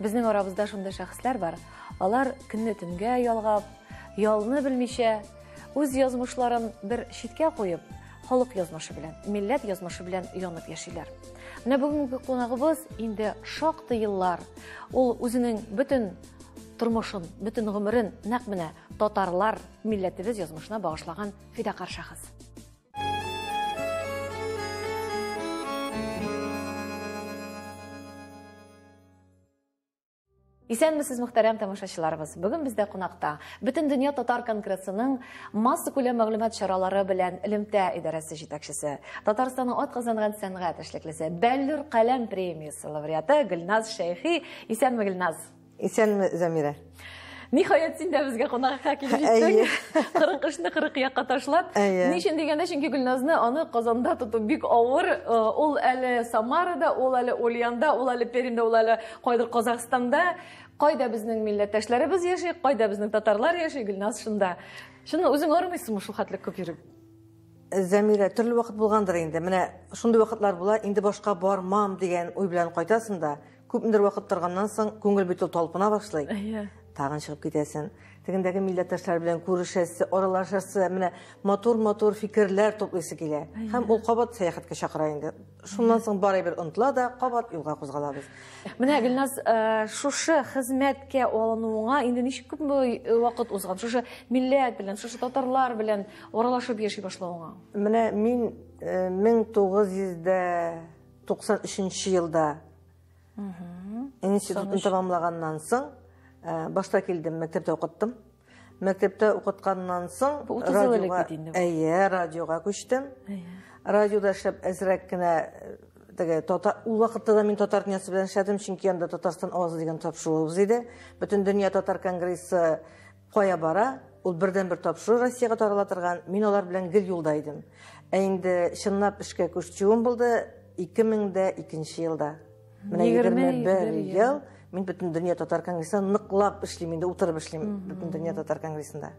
Безнең арабызда шундый шәхесләр бар. Алар көнне төнгә ялгап, ялны белмичә, үз язмышларын бер читкә куеп, халык язмышы белән, милләт язмышы белән янып яшиләр. Менә бүгенге кунагыбыз инде шактый еллар ул үзенең бөтен тормышын, бөтен гомерен нәкъ менә татарлар милләтебез язмышына багышлаган фидакарь шәхес. Исәнмесез, мөхтәрәм тамашачыларыбыз. Бүген бездә кунакта Бөтен дөнья татар конгрессының масса күләм мәгълүмат чаралары белән элемтә идарәсе җитәкчесе, Татарстанның атказанган сәнгать эшлеклесе, Бәллүр каләм премиясе лауреаты Гөлназ Шәйхи. Исәнме, Гөлназ? Исәнме, Замирә. Ниһаять син дә безгә кунакка килеп җиттең. 40 кешене 40 якка ташлап. Ни өчен дигәндә, чөнки Гөлназны аны Казанда тоту бик авыр. Э, ул әле Самарада, ул әле Ульянда, ул әле Пермьдә, ул әле кайдыр Казахстанда. Кайда безнең милләттәшләребез яши, кайда безнең татарлар яши, Гөлназ шунда. Шуны үзең армыйсыңмы шул хәтле күп йөреп? Зәмирә, төрле вакыт булгандыр инде. Менә шундый вакытлар була, инде башка бармам дигән уй белән кайтасың да, Күпмедер вакыт торганнан соң, күңел бит ул талпына башлый. Әйе. Тагын чыгып китәсен. Тегендәге милләттәшләр белән күрешәсе, аралашасы, менә матур-матур фикерләр туплыйсы килә. Һәм ул кабат сәяхәткә чакыра инде. Шуннан соң бары бер онтла да, кабат юлга кузгалабыз. Менә Гөлназ, э, шушы хезмәткә алынуыңа инде ничек күп э, вакыт узган? Шушы милләт белән, шушы татарлар белән аралашып яши башлавыңа? Менә мин 1900 э, дә 93 нче елда институтны тәмамлаганнан соң э, башта килдем мәктәптә укыттым мәктәптә укытканнан соң радиога әйе радиога күчтем радиода эшләп әзрәк кенә э, теге татар ул вакытта да мин татар дөньясы белән эшләдем чөнки анда татарстан авазы дигән тапшыруыбыз иде бөтен дөнья татар конгрессы Кая бара, ул бердәнбер тапшыру Россиягә тарала торган, мин алар белән гел юлда идем. Ә инде чынлап эшкә күчүем булды 2002 елда. Менә 21 ел мин бөтен дөнья татар конгрессында ныклап эшлим инде, утырып эшлим бөтен дөнья татар конгрессында.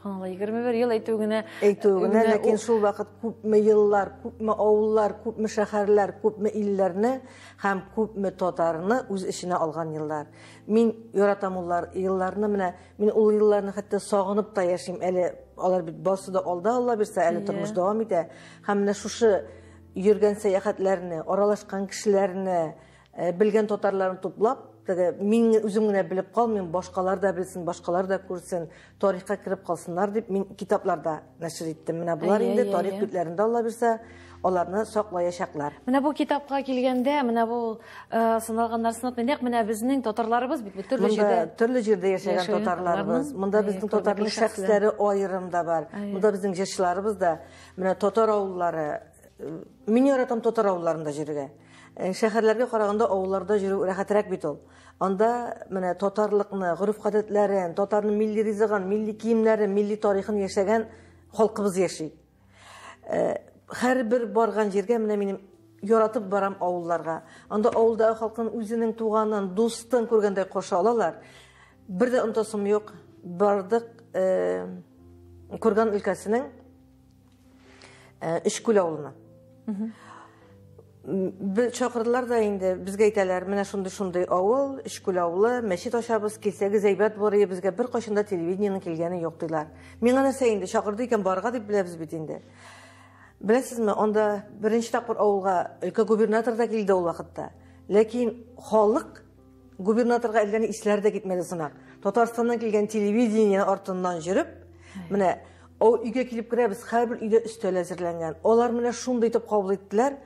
Субханалла, 21 ел әйтү генә. Әйтү генә, ләкин шул вакыт күпме еллар, күпме авыллар, күпме шәһәрләр, күпме илләрне һәм күпме татарны үз эченә алган еллар. Мин яратам уллар, елларны менә, мин ул елларны хәтта сагынып та яшим. Әле алар бит барсы да алда, Алла бирсә, әле тормыш дәвам итә. Һәм менә шушы йөргән сәяхәтләрне, аралашкан кешеләрне, э, белгән татарларны туплап, теге мин үзем генә белеп калмыйм, башкалар да белсен, башкалар да күрсен, тарихка кереп калсыннар дип мин китапларда нәшер иттем. Менә болар инде тарих битләрендә Алла бирсә, аларны саклаячаклар. Менә бу китапка килгәндә, менә бу э, сыналган нарсынат нәкъ менә безнең татарларыбыз бит төрле җирдә. Монда төрле җирдә яшәгән татарларыбыз. Монда безнең татарлар шәхесләре аерым да бар. Монда безнең җырчыларыбыз да менә татар авыллары э, Мин яратам татар авылларында җиргә. Э, шәһәрләргә караганда авылларда җөрү рәхәтрәк бит ул. Анда менә татарлыкны, гореф-гадәтләрен, татарның милли ризыгын, милли киемнәрен, милли тарихын яшәгән халкыбыз яши. Һәрбер барган җиргә менә минем яратып барам авылларга. Анда авылдагы халкын үзенең туганын, дустын күргәндәй каршы алалар. Бер дә онтасым юк, бардык Курган өлкәсенең Э, Өчкүл авылына. Бе- Чакырдылар да инде, безгә әйтәләр, менә шундый шундый авыл, Өчкүл авылы, мәчет ачабыз, килсәгез әйбәт булыр, иде, безгә бер кайчанда телевидениенең килгәне юк диләр. Миңа нәрсә инде, чакырды икән барга дип беләбез бит инде. Беләсезме, анда беренче тапкыр авылга өлкә губернатор да килде ул вакытта. Ләкин халык Губернаторга әллә ни исләре дә китмәде сымак. Татарстаннан килгән телевидение артыннан йөреп, менә о өйгә килеп керәбез, һәрбер өйдә өстәл әзерләнгән. Алар менә шундый итеп кабул иттеләр.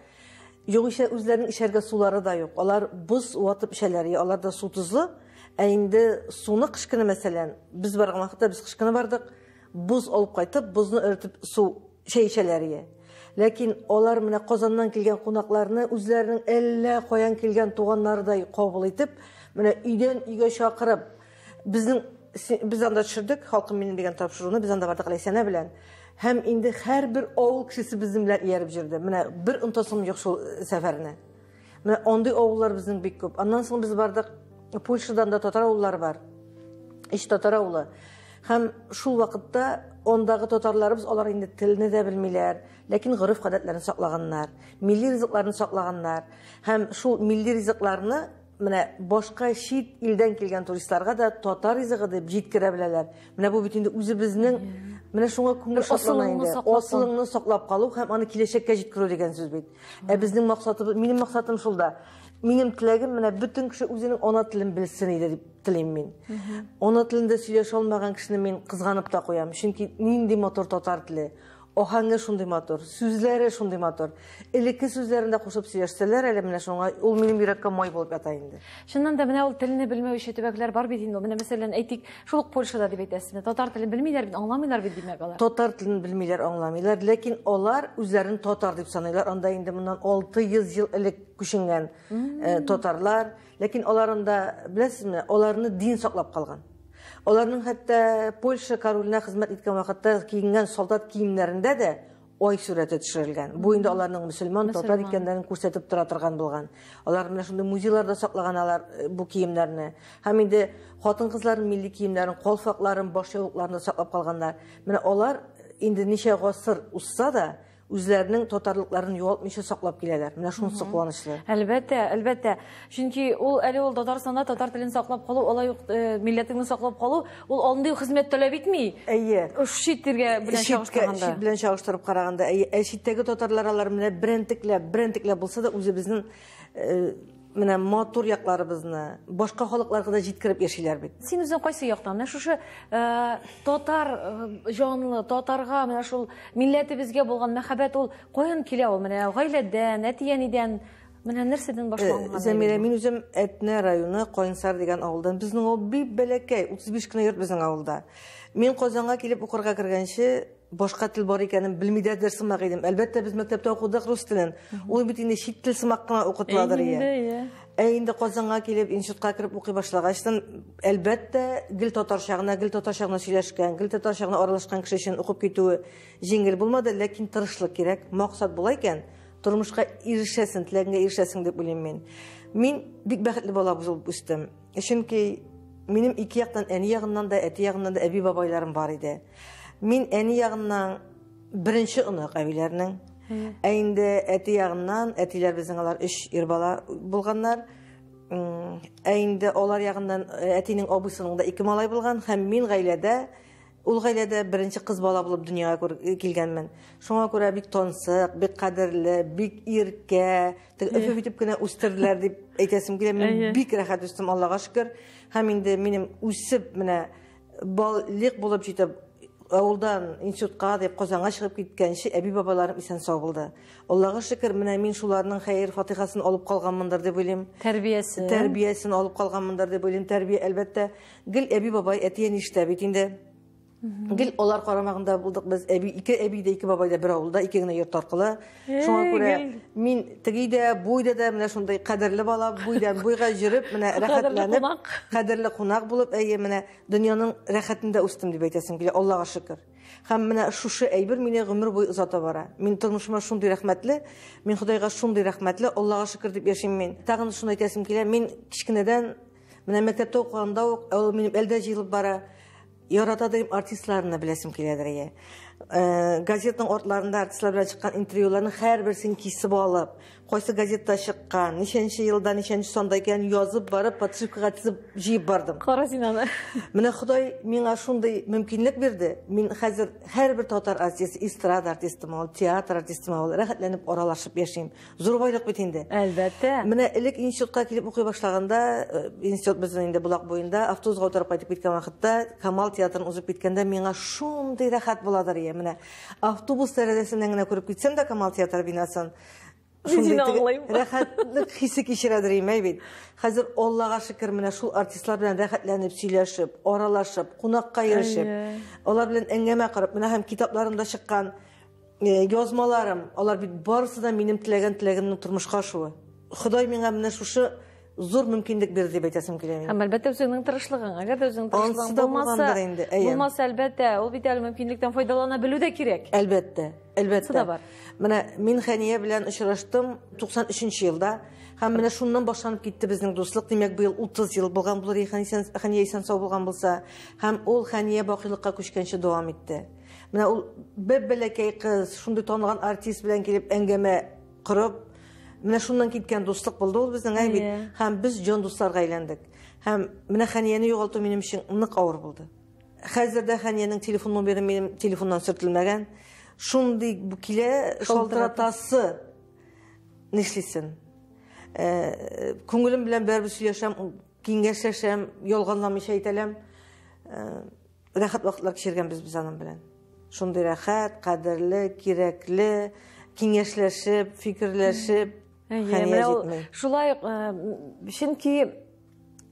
Югыйсә үзләренең эчәргә сулары да юк. Алар боз ватып эчәләр, я алар да су тозлы. Ә инде суны кышкыны мәсәлән, без барган вакытта без кышкыны бардык, боз алып кайтып, бозны эретеп су Чәй эчәләр ие. Ләкин алар менә Казаннан килгән кунакларны үзләренең әллә каян килгән туганнарыдай кабул итеп, менә өйдән өйгә чакырып, безнең без анда төшердек, Халкым минем дигән тапшыруны без анда бардык Ләйсәнә белән. Һәм инде һәрбер авыл кешесе безнең белән ияреп җөрде. Менә бер онтасым юк шул сәфәрне. Менә андый авыллар безнең бик күп. Аннан соң без бардык, Польшадан да татар авыллары бар. Ич татар авылы. Һәм шул вакытта ондагы татарларыбыз алар инде телне дә белмиләр, ләкин гореф гадәтләрен саклаганнар, милли ризыкларын саклаганнар. Һәм шул милли ризыкларны менә башка чит илдән килгән туристларга да татар ризыгы дип җиткерә беләләр. Менә бу бит инде үзебезнең менә шуңа күңел шатлана инде. Асылыңны саклап калу һәм аны киләчәккә җиткерү дигән сүз бит. Ә безнең максатыбыз, минем максатым шул да. Минем теләгем менә бөтен кеше үзенең ана телен белсен иде дип телим мин. Ана телендә сөйләшә алмаган кешене мин кызганып та куям. Чөнки нинди матур татар теле. Ахаңы шундый матур, сүзләре шундый матур. Элекке сүзләрен дә кушып сөйләшсәләр әле менә шуңа, ул минем йөрәккә май булып ята инде. Чыннан да менә ул телне белмәүче төбәкләр бар бит инде. Менә мәсәлән, әйтик, шул ук Польшада дип әйтәсез. Татар телен белмиләр бит, аңламыйлар бит димәк алар. Татар телен белмиләр, аңламыйлар, ләкин алар үзләрен татар дип саныйлар. Анда инде моннан 600 ел элек күченгән э, татарлар, ләкин алар анда, беләсезме, аларны дин саклап калган. Аларның хәтта Польша королына хезмәт иткән вакытта киенгән солдат киемнәрендә дә Ай сурәте төшерелгән. Бу инде аларның мөселман, татар икәннәрен күрсәтеп тора торган булган. Алар менә шундый музейларда саклаган алар э, бу киемнәрне. Һәм инде хатын-кызларның милли киемнәрен, калфакларын, баш яулыкларын да саклап калганнар. Менә алар инде ничә гасыр узса да, үзләренең татарлыкларын югалтмыйча саклап киләләр. Менә шунысы куанычлы. Әлбәттә, әлбәттә. Чөнки ул әле ул Татарстанда татар телен саклап калу, алай ук э, милләтеңне саклап калу, ул андый хезмәт таләп итми. Әйе. Чит телгә белән чагыштырганда. Чит белән чагыштырып караганда, әйе, ә читтәге татарлар алар менә берентекләп, берентекләп булса да үзебезнең э, менә матур якларыбызны башка халыкларга да җиткереп яшиләр бит. Син үзең кайсы яктан? Менә шушы э, татар җанлы, татарга менә шул милләтебезгә булган мәхәббәт ул каян килә ул? Менә гаиләдән, әти-әнидән, Менә нәрсәдән башланган? Зәмирә, мин үзем Әтнә районы Кайнсар дигән авылдан. Безнең авыл бик бәләкәй, 35 кенә йорт безнең авылда. Мин Казанга килеп укырга кергәнче, башка тел бар икәнен белмидә дә сымак идем. Әлбәттә, без мәктәптә укыдык рус телен. Ул бит инде чит тел сымак кына укытыладыр ия. Инде, ия. Ә инде Казанга килеп, институтка кереп укый башлагачтан, әлбәттә, гел татарча гына, гел татарча гына сөйләшкән, гел татарча гына аралашкан кеше өчен укып китүе җиңел булмады, ләкин тырышлык кирәк, максат була икән, Тормышка ирешәсең, теләгеңә ирешәсең дип уйлыйм мин. Мин бик бәхетле бала булып үстем. Чөнки минем ике яктан әни ягыннан да, әти ягыннан да әби бабайларым бар иде. Мин әни ягыннан беренче онык әбиләрнең. Ә инде әти ягыннан, әтиләр безнең алар өч ир бала булганнар. Ә инде алар ягыннан әтинең абыйсының да ике малай булган һәм мин гаиләдә Ул гаиләдә беренче кыз бала булып дөньяга килгәнмен. Шуңа күрә бик тансык, бик кадерле, бик иркә, теге өфе итеп кенә үстерделәр дип әйтәсем килә. Мин бик рәхәт үстем, Аллага шөкер. Һәм инде минем үсеп менә балык булып җитеп, авылдан институтка дип Казанга чыгып киткәнче әби-бабайларым исән-сау булды. Аллага шөкер, менә мин шуларның хәер-фатихасын алып калганмындыр дип уйлыйм. Тәрбиясен. Тәрбиясен алып калганмындыр дип уйлыйм. Тәрбия, әлбәттә, Гел әби бабай әти-әни эштә бит инде. Гел алар карамагында булдык без. Әби ике әби дә, ике бабай да бер авылда, ике генә йорт аркылы. Шуңа күрә мин теге дә, буй да да менә шундый кадерле бала, буйдан буйга җөреп, менә рәхәтләнеп, кадерле кунак булып, әйе, менә дөньяның рәхәтендә үстем дип әйтәсем килә, Аллага шөкер. Хәм менә шушы әйбер мине гомер буй озата бара. Мин тормышыма шундый рәхмәтле, мин Худайга шундый рәхмәтле, Аллага шөкер дип яшим мин. Тагын шуны әйтәсем килә, мин кичкенәдән Менә мәктәптә укыганда ук, ә ул минем әлдә җыелып бара. Ярата дигән артистларны беләсем киләдер ие. Э, газетның артларында артистлар белән чыккан интервьюларның һәрберсен кисеп алып, кайсы газетта чыккан, ничәнче елда, ничәнче санда икән язып барып, подшивкага тезеп җыеп бардым. Каразинаны. Менә Ходай миңа шундый мөмкинлек бирде. Мин хәзер һәрбер татар артисты, эстрада артистымы, театр артистымы, рәхәтләнеп аралашып яшим. Зур байлык бит инде. Әлбәттә. Менә элек институтка килеп укый башлаганда, э, институт безнең инде Булак буенда, автобусга утырып кайтып киткән вакытта, Камал театрын узып киткәндә миңа шундый рәхәт буладыр ия. Менә автобус тәрәзәсеннән генә күреп китсәм дә Камал театры бинасын, шундый рәхәтлек хисе кичерәдер ием әй бит. Хәзер Аллага шөкер, менә шул артистлар белән рәхәтләнеп сөйләшеп, аралашып, кунакка ирешеп, алар белән әңгәмә корып, менә һәм китапларында чыккан Э, язмаларым, алар бит барысы да минем теләгән теләгемнең тормышка ашуы. Ходай миңа менә шушы зур мөмкинлек бирде дип әйтәсем килә мин. Һәм әлбәттә үзеңнең тырышлыгың. Әгәр дә үзеңнең тырышлыгың булмаса, инде, булмаса әлбәттә, ул бит әле мөмкинлектән файдалана белү дә кирәк. Әлбәттә, әлбәттә. да бар. Менә мин Хәния белән очраштым 93 елда. Һәм менә шуннан башланып китте безнең дуслык. Димәк, быел 30 ел булган булыр, Хәния исән сау булган булса. Һәм ул Хәния бакыйлыкка күчкәнче дәвам итте. Менә ул бер бәләкәй кыз, шундый танылган артист белән килеп әңгәмә корып, менә шуннан киткән дуслык булды ул безнең ә бит. Һәм без җан дусларга әйләндек. Һәм менә Хәнияне югалту минем өчен нык авыр булды. Хәзер дә Хәниянең телефон номеры минем телефоннан сөртелмәгән. Шундый килә шалтыратасы. Нишлисен? Э, күңелем белән бәрбер сөйләшәм, киңәшләшәм, ялганламыйча әйтәләм. Э, Рәхәт вакытлар кичергәнбез без аның белән. Шундый рәхәт, кадерле, кирәкле, киңәшләшеп, фикерләшеп, хәния җитми. Шулай, чөнки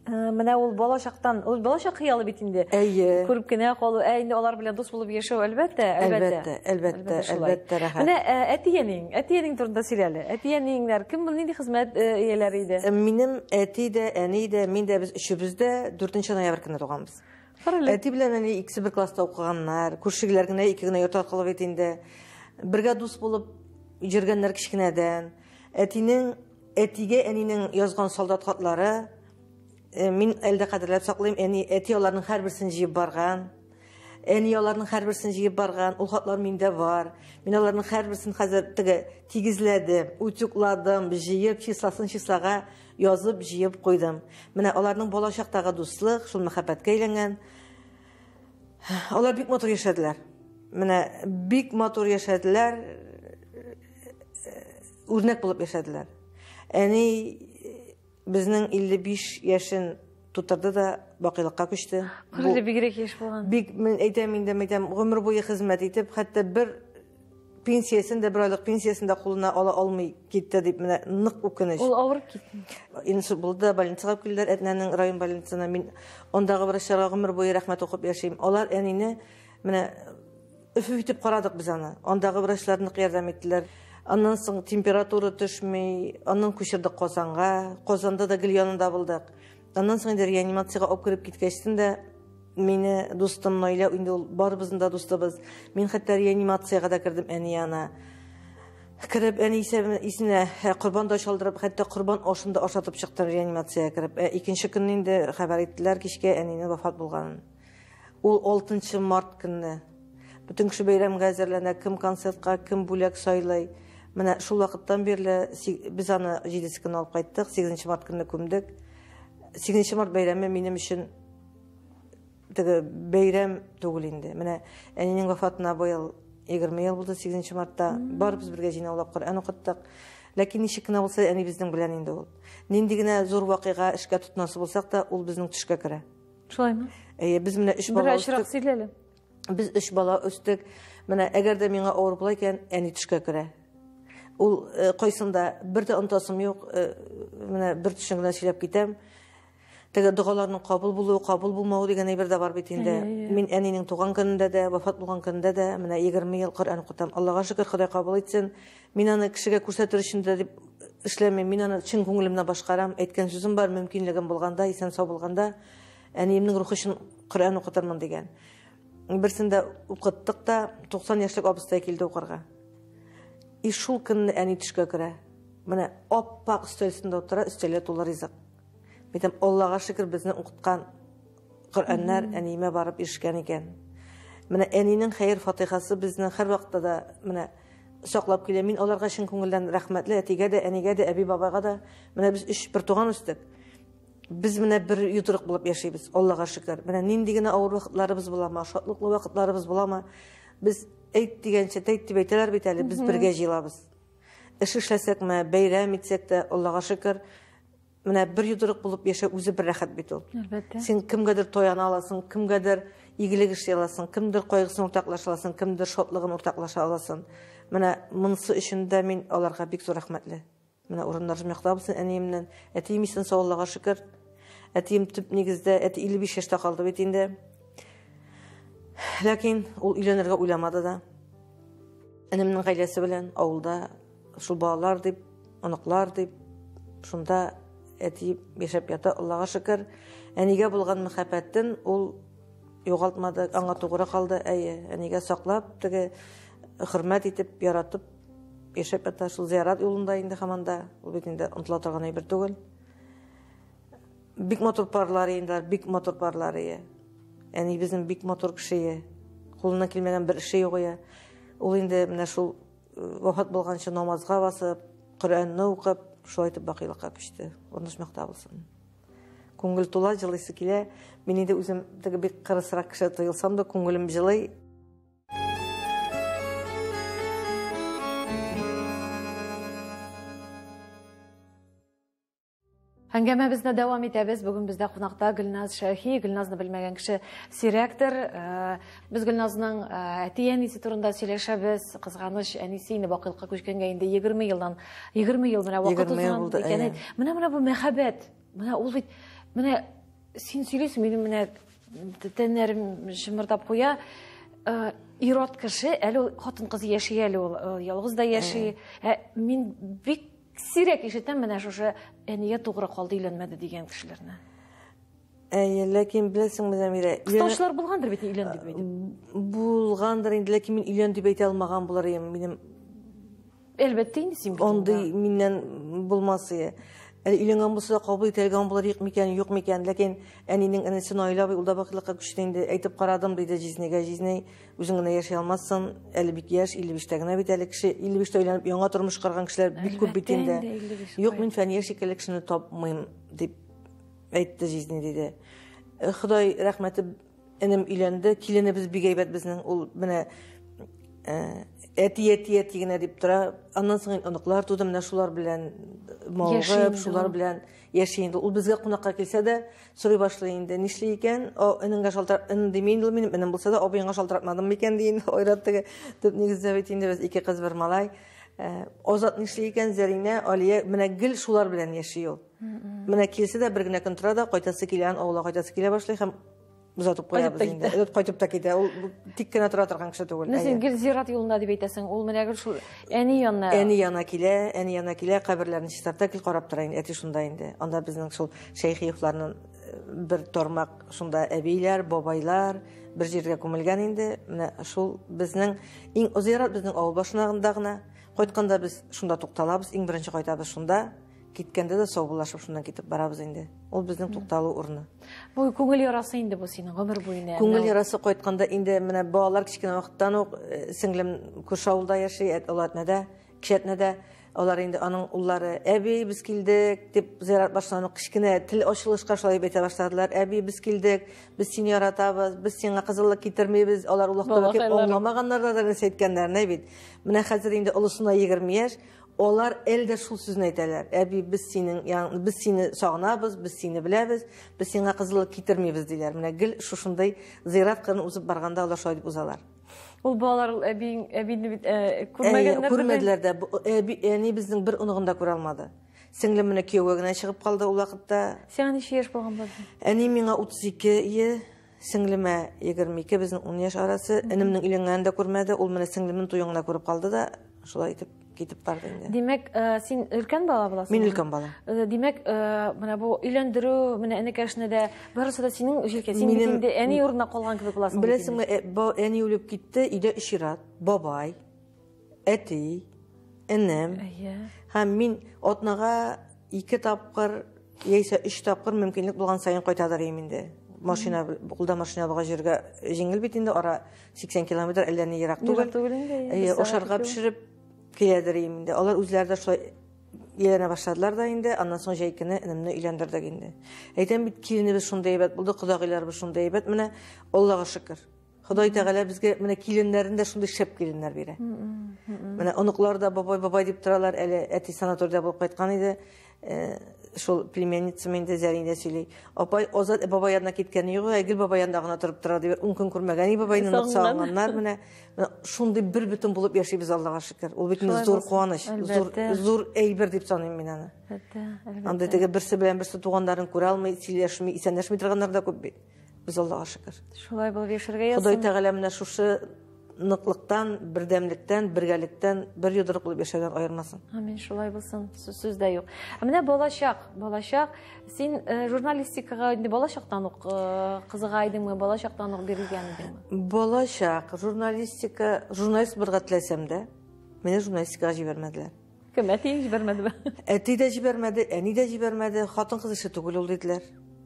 менә ул бала чактан, ул бала чак хыялы бит инде. Әйе. Күреп кенә калу, ә инде алар белән дус булып яшәү, әлбәттә, әлбәттә. Әлбәттә, әлбәттә, рәхәт. Менә әтиәнең, әтиәнең турында сөйлә әле. Әтиәнеңнәр кем, нинди хезмәт ияләре иде? Минем әти дә, әни дә, мин дә, без өчебез дә 4 ноябрь көне туганбыз. Әти белән әни икесе бер класста укыганнар. Күршегеләр генә ике генә йорт аркылы бит инде. Бергә дус булып йөргәннәр кечкенәдән. Әтинең әтигә әнинең язган солдат хатлары э, мин әлдә кадерләп саклыйм. Әни әти аларның һәрберсен җыеп барган. Әни аларның һәрберсен җыеп барган. Ул хатлар миндә бар. Мин аларның һәрберсен хәзер теге тигезләдем, утюкладым, җыеп числасын числага Язып, җыеп куйдым. Менә аларның балачактагы дуслык, шул мәхәббәткә әйләнгән. Алар бик матур яшәделәр. Менә бик матур яшәделәр. Үрнәк булып яшәделәр. Әни безнең 55 яшен Тутырды да бакыйлыкка күчте. Үзе бигрәк яшь булган. Бик мин әйтәм инде, әйтәм, гомер буе хезмәт итеп, хәтта бер пенсиясен дә, бер айлык пенсиясен дә кулына ала алмый китте дип менә нык үкенеч. Ул авырып китте. Инсульт булды, больницага килделәр, Әтнәнең район больницасына. Мин ондагы врачларга гомер буе рәхмәт укып яшим. Алар әнине менә Өф итеп карадык без аны. Андагы врачлар нык ярдәм иттеләр. Аннан соң температура төшми, аннан күчердек Казанга. Казанда да гел янында булдык. Аннан соң инде реанимациягә алып кереп киткәчтен дә мине дустым Наилә, инде ул барыбызның да дустыбыз. Мин хәтта реанимациягә дә кердем әни янына. Кереп әни исенә корбан да чалдырып, хәтта корбан ашын да ашатып чыктым реанимациягә кереп. Ә икенче көнне инде хәбәр иттеләр кичкә әнинең вафат булганын. Ул алтынчы март көнне. Бөтен кеше бәйрәмгә әзерләнә, кем концертка, кем бүләк сайлый. Менә шул вакыттан бирле без аны җиденче көнне алып кайттык, сигезенче март көнне күмдек. Сигезенче март бәйрәме минем өчен теге бәйрәм түгел инде. Менә әнинең вафатына быел егерме ел булды, сигезенче мартта. Барыбыз бергә җыйнаулап Коръән укыттык. Ләкин ничек кенә булса, әнибезнең белән инде ул. Нинди генә зур вакыйга, эшкә тотынасы булсак та, ул безнең төшкә керә. Шулаймы? Әйе, без менә өч бала өстек. сөйләле. Без өч бала өстек. Менә әгәр дә миңа авыр була икән, әни төшкә керә. Ул э, кайсында бер дә онтасым юк. Э, менә бер төшен генә сөйләп китәм. Теге догаларның кабул булуы, кабул булмауы дигән әйбер дә бар бит инде. Мин әнинең туган көнендә дә, вафат булган көнендә дә менә 20 ел Коръән укытам. Аллага шөкер, Ходай кабул итсен. Мин аны кешегә күрсәтер өчен дә дип эшләмим. Мин аны чын күңелемнән башкарам. Әйткән сүзем бар, мөмкинлегем булганда, исән-сау булганда, әниемнең рухы өчен Коръән укытырмын, дигән. Берсен дә укыттык та, 90 яшьлек абыстай килде укырга. И шул көнне әни төшкә керә. Менә ап-ак өстәл өстендә утыра, өстәлгә тулы ризык. Әйтәм, Аллага шөкер, безне укыткан Коръәннәр әниемә барып ирешкән икән. Менә әнинең хәер-фатихасы безне һәрвакытта да менә саклап килә. Мин аларга чын күңелдән рәхмәтле, әтигә дә, әнигә дә, әби-бабайга да. Менә без өч бертуган үстек. Без менә бер йодрык булып яшибез, Аллага шөкер. Менә нинди генә авыр вакытларыбыз буламы, шатлыклы вакытларыбыз буламы, без әйт дигәнчә, тәйт дип әйтәләр бит әле, без бергә җыелабыз. Эш эшләсәкме, бәйрәм итсәк тә, Аллага шөкер, Менә бер йодрык булып яшәү үзе бер рәхәт бит ул. Әлбәттә. Син кемгәдер таяна аласың, кемгәдер игелек эшли аласың, кемдер кайгысын уртаклаша аласың, кемдер шатлыгын уртаклаша аласың. Менә монысы өчен дә мин аларга бик зур рәхмәтле. Менә урыннар якта булсын әниемнән. Әтием исән сау, Аллага шөкер. Әтием төп нигездә, әти 55 яшьтә калды бит инде. Ләкин ул өйләнергә уйламады да. Энемнең гаиләсе белән авылда Шул балалар дип, оныклар дип, шунда әти яшәп ята, Аллага шөкер. Әнигә булган мәхәббәтен ул югалтмады, аңа тугры калды, әйе, әнигә саклап, теге хөрмәт итеп, яратып яшәп ята. Шул зиярат юлында инде хаманда, ул бит инде онтыла торган әйбер түгел. Бик матур парлар инде, бик матур парлар ие. Әни безнең бик матур кеше ие. Кулына килмәгән бер эше юк ие. Ул инде менә шул Вафат булганчы намазга басып, Коръәнне укып, шулай итеп бакыйлыкка күчте. Онышмакта булсын. Күңел тула, җылыйсы килә. Мин инде үзем теге бик кырысрак кеше тоелсам да, күңелем җылый. Әңгәмәбезне дәвам итәбез. Бүген бездә кунакта Гөлназ Шәхи. Гөлназны белмәгән кеше сирәктер. Э, без Гөлназның э, әти-әнисе турында сөйләшәбез. Кызганыч, әнисе инде бакыйлыкка күчкәнгә инде 20 елдан 20 ел менә вакыт узган икән. Менә менә бу мәхәббәт. Менә ул бит менә син сөйлисең, минем менә тәннәрем шымырдап куя. Э, ират кеше, әле хатын-кыз яши әле ул, ялгыз да яши. Мин бик Сирәк ишетәм менә шушы әнигә тугры калды өйләнмәде дигән кешеләрне. Әйе, ләкин беләсеңме, Зәмирә, Кыстаучылар булгандыр бит өйлән дип әйтеп. Булгандыр инде, ләкин мин өйлән дип әйтә алмаган булыр идем. Минем Әлбәттә инде син бит. Андый миннән булмас иде. Әле өйләнгән булса да кабул итә алган булыр юк микән, юк микән, ләкин әнинең энесе Наилә абый ул да бакыйлыкка күчте инде, әйтеп карадым, диде Җизнигә. Җизней Үзең генә яши алмассың, әле бик яшь, 55-тә генә бит әле кеше. 55-тә өйләнеп, яңа тормыш карган кешеләр бик күп бит инде. Юк, мин Фәния шикелле кешене тапмыйм, дип әйтте Жизни, диде. Э, Ходай рәхмәте, энем өйләнде, киленебез бик әйбәт безнең. Ул менә э, әти, әти, әти генә дип тора. Аннан соң оныклар туды, менә шулар белән мавыгып, шулар белән Яши инде. Ул безгә кунакка килсә дә, сорый башлый инде. Нишли икән? О, энеңгә шалтыр, эн диме инде ул минем, энем булса да, абыеңа шалтыратмадым микән ди инде. Айрат теге төп нигездә бит инде без ике кыз бер малай. Э, Азат нишли икән, Зәринә, Алия, менә гел шулар белән яши ул. Менә килсә дә бер генә көн тора да, кайтасы килә, авылга кайтасы килә башлый һәм озатып куябыз инде озатып кайтып та китә ул тик кенә тора торган кеше түгел менә син гел зират юлында дип әйтәсең ул менә гел шул әни янына әни янына килә әни янына килә каберләрне чистарта гел карап тора инде әти шунда инде анда безнең шул шәйхиевларның э, бер тормак шунда әбиләр бабайлар бер җиргә күмелгән инде менә шул безнең иң зират безнең авыл башында гына кайтканда без шунда тукталабыз иң беренче кайтабыз шунда Киткәндә дә саубуллашып шуннан китеп барабыз инде. Ул безнең тукталу урыны. Бу күңел ярасы инде бу синең гомер буена. Күңел ярасы кайтканда инде менә балалар кечкенә вакыттан ук э, сеңлем күрше авылда яши, Олатнәдә, Кишәтнәдә. Алар инде аның уллары әби без килдек дип зыярат башлана кечкенә тел ачылышка шулай әйтә башладылар. Әби без килдек, без сине яратабыз, без сиңа кызыллык китермибез. Алар улакта аңламаганнар да нәрсә әйткәннәрен бит. Менә хәзер инде олысына 20 яшь, Алар әле дә шул сүзне әйтәләр. Әби, без синең, яң, без сине сагынабыз, без сине беләбез, без сиңа кызыллык китермибез, диләр. Менә гел шушындый зыйрат кырын узып барганда алар шулай дип узалар. Ул балалар ул әби, әбине бит э, күрмәгәннәр. Күрмәделәр дә. Әби, әни безнең бер оныгын да күрә алмады. Сеңлем менә кияүгә генә чыгып калды ул вакытта. Сиңа ничә яшь булган булды? Әни миңа 32 е Сеңлемә 22, безнең 10 яшь арасы. Энемнең өйләнгәнен дә күрмәде. Ул менә сеңлемнең туен гына күреп калды да, шулай итеп китеп барды инде. Димәк, э, син өлкән бала буласың? Мин өлкән бала. Э, димәк, э, менә бу өйләндерү, менә энекәшне дә барысы да синең җилкә. Син Минем... инде әни урынына калган кебек буласың. Беләсеңме, әни үлеп китте, өйдә өч ир-ат, бабай, Әти, энем. Әйе. Һәм мин атнага ике тапкыр яисә өч тапкыр мөмкинлек булган саен кайтадыр идем инде. Машина кулда машина булган җиргә җиңел бит инде ара 80 километр әллә ни ерак түгел. Ерак түгел инде. Әйе, ашарга пешереп киләдер идем инде. Алар үзләре дә шулай ияләнә башладылар да инде. Аннан соң җәй көне энемне өйләндердек инде. Әйтәм бит, киленебез шундый әйбәт булды, кодагыйларыбыз шундый әйбәт. Менә Аллага шөкер. Ходай Тәгалә безгә менә киленнәрен дә шундый шәп киленнәр бирә. Менә оныклар да бабай бабай дип торалар, әле әти санаториядә булып кайткан иде. Э, шул племянницам инде Зәринә сөйли. Апай Азат бабай янына киткәне юк, Әгел бабай янында гына торып тора дип, ун көн күрмәгән и бабайны нык сагынганнар менә. Шундый бер бөтен булып яшибез Аллага шөкер. Ул бит зур куаныч, зур зур әйбер дип саныйм мин аны. Анда теге берсе белән берсе туганнарын күрә алмый, сөйләшми, исәнләшми торганнар да күп бит. Без Аллаһка шөкер. Шулай булып яшәргә язсын. Ходай Тәгалә менә шушы ныклыктан, бердәмлектән, бергәлектән бер йодрык булып яшәгән аермасын. Амин, шулай булсын. Сүз дә юк. Ә менә балачак, балачак. Син э, журналистикага инде балачактан ук э, кызыга идеңме? Балачактан ук бирелгән идеңме? Балачак, журналистика, журналист булырга теләсәм дә, мине журналистикага җибәрмәделәр. Кем, әтиең җибәрмәдеме? Әти дә җибәрмәде, әни дә җибәрмәде, хатын-кыз эше түгел ул диделәр.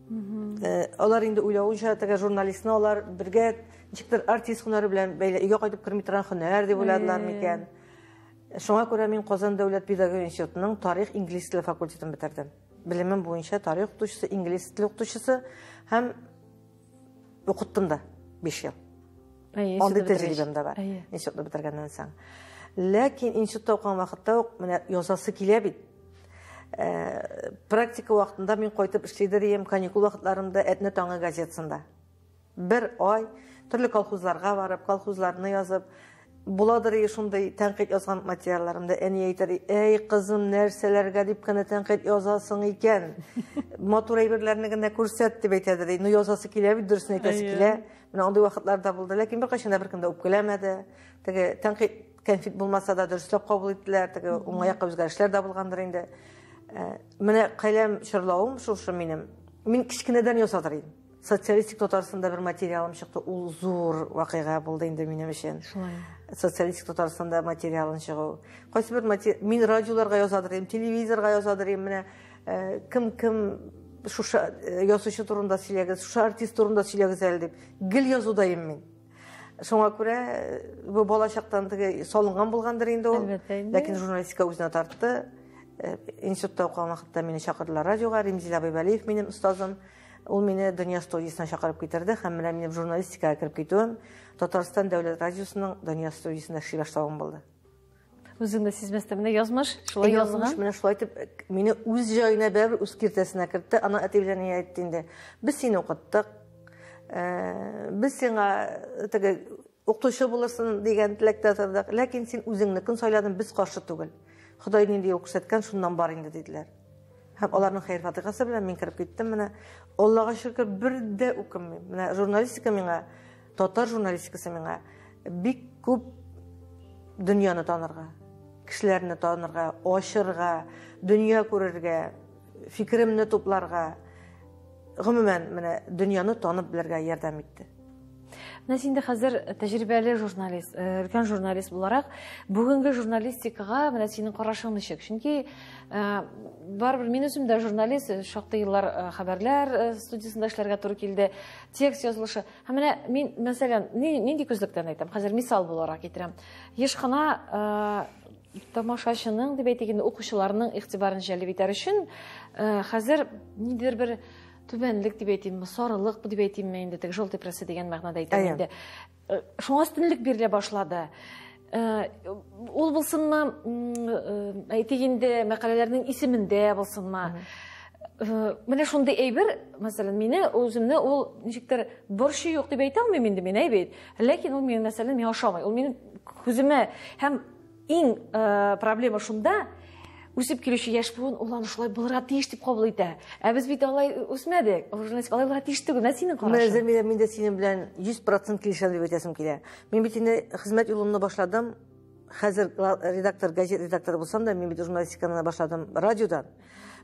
Э, алар инде уйлавынча теге журналистны алар бергә ничектер артист һөнәре белән бәйле өйгә кайтып керми торган һөнәр дип уйладылар микән шуңа күрә мин казан дәүләт педагогия институтының тарих инглиз теле факультетын бетердем белемем буенча тарих укытучысы инглиз теле укытучысы һәм Укыттым да 5 ел. Әйе, Андый тәҗрибәм дә бар. Институтны бетергәннән соң. Ләкин институтта укыган вакытта ук менә язасы килә бит. Э, практика вакытында мин кайтып эшләдер идем, каникул вакытларымда Әтнә таңы газетасында. Бер ай төрле колхозларга барып, колхозларны язып, Буладыр и шундый тәнкыйть язган материалларымда әни әйтер, әй кызым, нәрсәләргә дип кенә тәнкыйть язасың икән. Матур әйберләрне генә күрсәт дип әйтәдер. Ну язасы килә бит, дөресен әйтәсе килә. Менә андый вакытлар да булды, ләкин беркайчан да беркем дә үпкәләмәде. Теге тәнкыйть кәнфит булмаса да дөресрәк кабул иттеләр, теге уңай якка үзгәрешләр дә булгандыр инде. Э, менә каләм чорлавым шушы минем. Мин кечкенәдән ясадыр идем. Социалистик Татарстанда бер материалым чыкты. Ул зур вакыйга булды инде минем өчен. Шулай. Социалистик Татарстанда материалын чыгу. Кайсы бер матери... мин радиоларга язадыр идем, телевизорга язадыр идем. Менә э, кем кем шуша э, язучы турында сөйләгез, шуша артист турында сөйләгез әле дип. Гел язуда идем мин. Шуңа күрә э, бу балачактан теге салынган булгандыр инде ул. Ләкин журналистика үзенә тартты. Э, институтта укыган вакытта мине чакырдылар радиога, Римзил Абайбалиев минем остазым. Ул мине Дөнья студиясенә чакырып китерде һәм менә минем журналистикага кереп китүем Татарстан дәүләт радиосының Дөнья студиясендә эшли башлавым булды. Үзең дә сизмәстән менә язмыш шулай язган. Язмыш менә шулай итеп мине үз җаена бәрбер үз киртәсенә кертте. Ана әти белән ни әйтте инде. Без сине укыттык. Э, без сиңа теге укытучы булырсың дигән теләктә тордык. Ләкин син үзеңнекен сайладың, без каршы түгел. Ходай нинди юл күрсәткән, шуннан бар инде диделәр. Һәм аларның хәер-фатихасы белән мин кереп киттем менә. Аллага шөкер, бер дә үкенмим. Менә журналистика миңа, татар журналистикасы миңа бик күп дөньяны танырга, кешеләрне танырга, ачырга, дөнья күрергә, фикеремне тупларга, Гомумән, менә дөньяны танып белергә ярдәм итте. Менә син дә хәзер тәҗрибәле журналист, э, өлкән журналист буларак, бүгенге журналистикага менә синең карашың ничек? Чөнки э, барыбер мин үзем дә журналист, э, шактый еллар хәбәрләр студиясендә эшләргә туры килде, текст язылышы. Һәм менә мин, мәсәлән, нинди күзлектән әйтәм, хәзер мисал буларак китерәм. Еш кына тамашачының дип әйтик инде укучыларның игътибарын җәлеп итәр өчен э, хәзер нидер бер түбәнлек дип әйтимме сарылык дип әйтимме инде теге желтый пресса дигән мәгънәдә әйтәм инде э, шуңа өстенлек бирелә башлады э, ул булсынмы әйтик инде мәкаләләрнең исемендә булсынмы менә шундый әйбер мәсәлән мине үземне ул ничектер борчу юк дип әйтә алмыйм инде мин әйбит ләкин ул минем мәсәлән миңа ошамый ул минем күземә һәм Иң э, проблема шунда, үсеп килүче яшь буын ул аны шулай булырга тиеш дип кабул итә. Ә без бит алай үсмәдек. Журналистик алай булырга тиеш түгел. Менә синең карашың. Менә Зәмирә, мин дә синең белән 100% килешәм дип әйтәсем килә. Мин бит инде хезмәт юлымны башладым. Хәзер редактор, газет редакторы булсам да, мин бит журналистиканы башладым радиодан.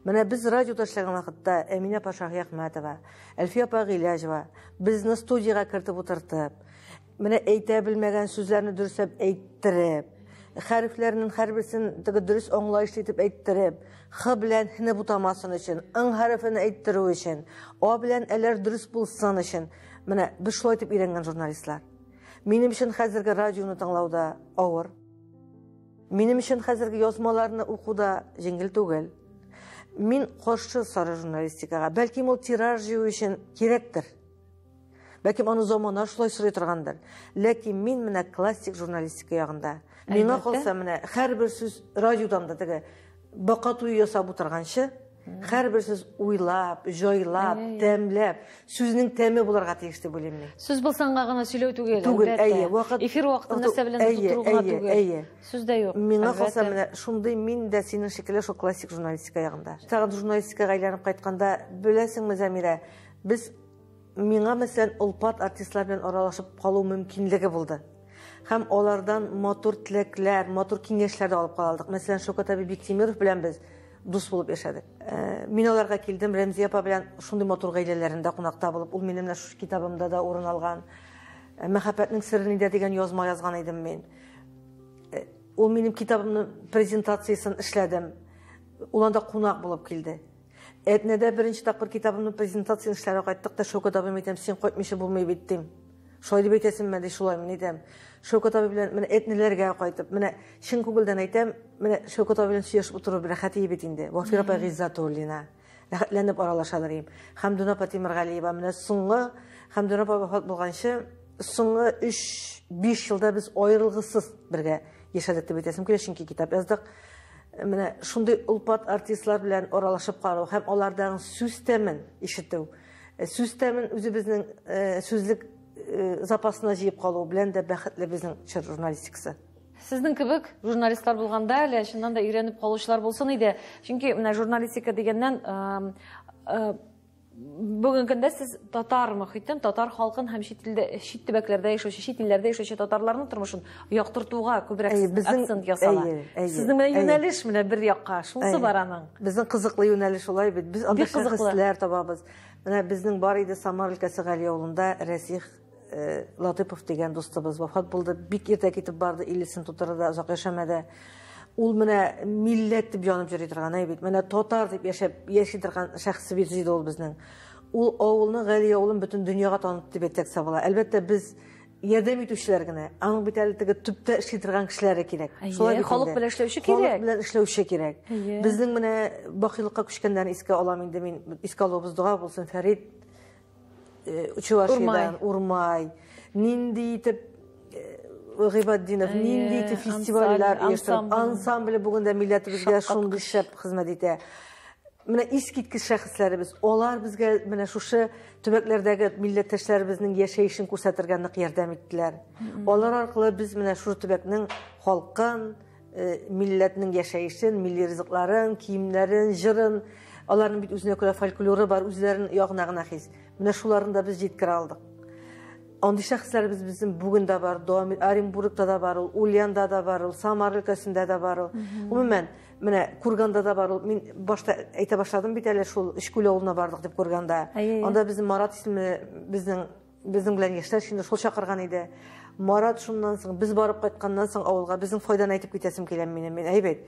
Менә без радиода эшләгән вакытта Әминә Пашахяхмәтова, Әлфия апа Гыйләҗева безне студиягә кертеп утыртып, Менә әйтә белмәгән сүзләрне дөресәп әйттереп, хәрефләрнең һәрберсен теге дөрес аңлаешлы итеп әйттереп, х белән һне бутамасын өчен, ң хәрефен әйттерү өчен, а белән әләр дөрес булсын өчен, менә без шулай итеп өйрәнгән журналистлар. Минем өчен хәзерге радионы тыңлауда авыр. Минем өчен хәзерге язмаларны укуда җиңел түгел. Мин каршы сары журналистикага. Бәлки ул тираж җыю өчен кирәктер. Бәлкем аны замана шулай сорый торгандыр. Ләкин мин менә классик журналистика ягында. Миңа калса менә һәрбер сүз радиодан да теге бака туе ясап утырганчы, һәрбер сүз уйлап, җайлап, тәмләп, сүзнең тәме буларга тиеш дип уйлыйм мин. Сүз булсанга гына сөйләү түгел, түгел, әйе, вакыт эфир вакытын нәрсә белән тутыру гына түгел. Әйе, сүз дә юк. Миңа калса менә шундый мин дә синең шикелле шул классик журналистика ягында. Тагын журналистикага әйләнеп кайтканда, беләсеңме, Замирә, Без миңа мәсәлән олпат артистлар белән аралашып калу мөмкинлеге булды. Һәм алардан матур теләкләр, матур киңәшләр дә алып кала алдык. Мәсәлән, Шокат әби Биктимиров белән без дус булып яшәдек. Э, мин аларга килдем, Рәмзия апа белән шундый матур гаиләләрендә кунакта булып, ул минем менә шушы китабымда да урын алган. Э, Мәхәббәтнең сыры нидә дигән язма язган идем мин. Э, ул минем китабымның презентациясен эшләдем. Ул анда кунак булып килде. Әтнәдә беренче тапкыр китабымны презентация эшләргә кайттык та, Шәүкәт абыйм әйтәм, син кайтмыйча булмый бит, дим. Шулай дип әйтәсеңме, ди, шулай, мин әйтәм. Шәүкәт абый белән менә Әтнәләргә кайтып, менә чын күңелдән әйтәм, менә Шәүкәт абый белән сөйләшеп утыру бер рәхәт ие бит инде. Вафир апа Гыйззатуллина. Рәхәтләнеп аралашалар ием. Хәмдүн апа Тимергалиева. Менә соңгы Хәмдүн апа вафат булганчы, соңгы 3-5 елда без аерылгысыз бергә яшәдек дип әйтәсем килә, чөнки китап яздык. Менә шундый олпат артистлар белән аралашып калу һәм алардан сүз тәмен ишетү, э, сүз тәмен үзебезнең э, сүзлек э, запасына җыеп калу белән дә бәхетле безнең чор журналистикасы. Сезнең кебек журналистлар булганда әле чыннан да өйрәнеп калучылар булсын иде. Чөнки менә журналистика дигәннән Бүгенге көндә сез татар мөхитен, татар халкын һәм чит илдә чит төбәкләрдә яшәүче, чит илләрдә яшәүче татарларның тормышын яктыртуга күбрәк Әйе, безнең- акцент ясала. әйе, әйе, Сезнең менә әйе. юнәлеш менә бер якка, шунысы Әйе. бар аның. Безнең кызыклы юнәлеш улай бит. Без анда Бик кызыклы. шәхесләр табабыз. Менә безнең бар иде Самар өлкәсе Гали авылында Рәсих Э, Латыпов дигән дустыбыз вафат булды. Бик иртә китеп барды, илесен тутырды да озак яшәмәде. Ул менә милләт дип янып йөри торган әй бит. Менә татар дип яшәп яши торган шәхес бит иде ул безнең. Ул авылны, Гали авылын бөтен дөньяга танытты дип әйтсәк сабыла. Әлбәттә без ярдәм итүчеләр генә. Аның бит әле теге төптә эшли торган кешеләре кирәк. Шулай бит. Халык белән эшләүче кирәк. Халык белән эшләүче кирәк. Безнең менә бакыйлыкка күчкәннәрне искә алам инде мин. Искә алуыбыз дога булсын, Фәрит Чувашиядән, Урмай. Нинди итеп Гыйбаддинов нинди итеп фестивальләр оештырып, ансамбль бүген дә милләтебезгә шундый шәп хезмәт итә. Менә искиткеч шәхесләребез, алар безгә менә шушы төбәкләрдәге милләттәшләребезнең яшәешен күрсәтергә нык ярдәм иттеләр. Алар аркылы без менә шушы төбәкнең халкын, Э, милләтнең яшәешен, милли ризыкларын, киемнәрен, җырын, аларның бит үзенә күрә фольклоры бар, үзләрен ягына гына хис. Менә шуларны да без җиткерә алдык. Андый шәхесләребез безнең бүген дә бар, дәвам Оренбургта да бар ул, Ульянда да бар ул, Самар өлкәсендә дә бар ул. Гомумән, менә Курганда да бар ул. Мин башта әйтә башладым бит әле шул Өчкүл авылына бардык дип Курганда. Анда безнең Марат исемле безнең Безнең белән яшьләр чины шул чакырган иде. Марат шуннан соң, без барып кайтканнан соң авылга безнең файданы әйтеп китәсем килә минем. Мин әйбәт.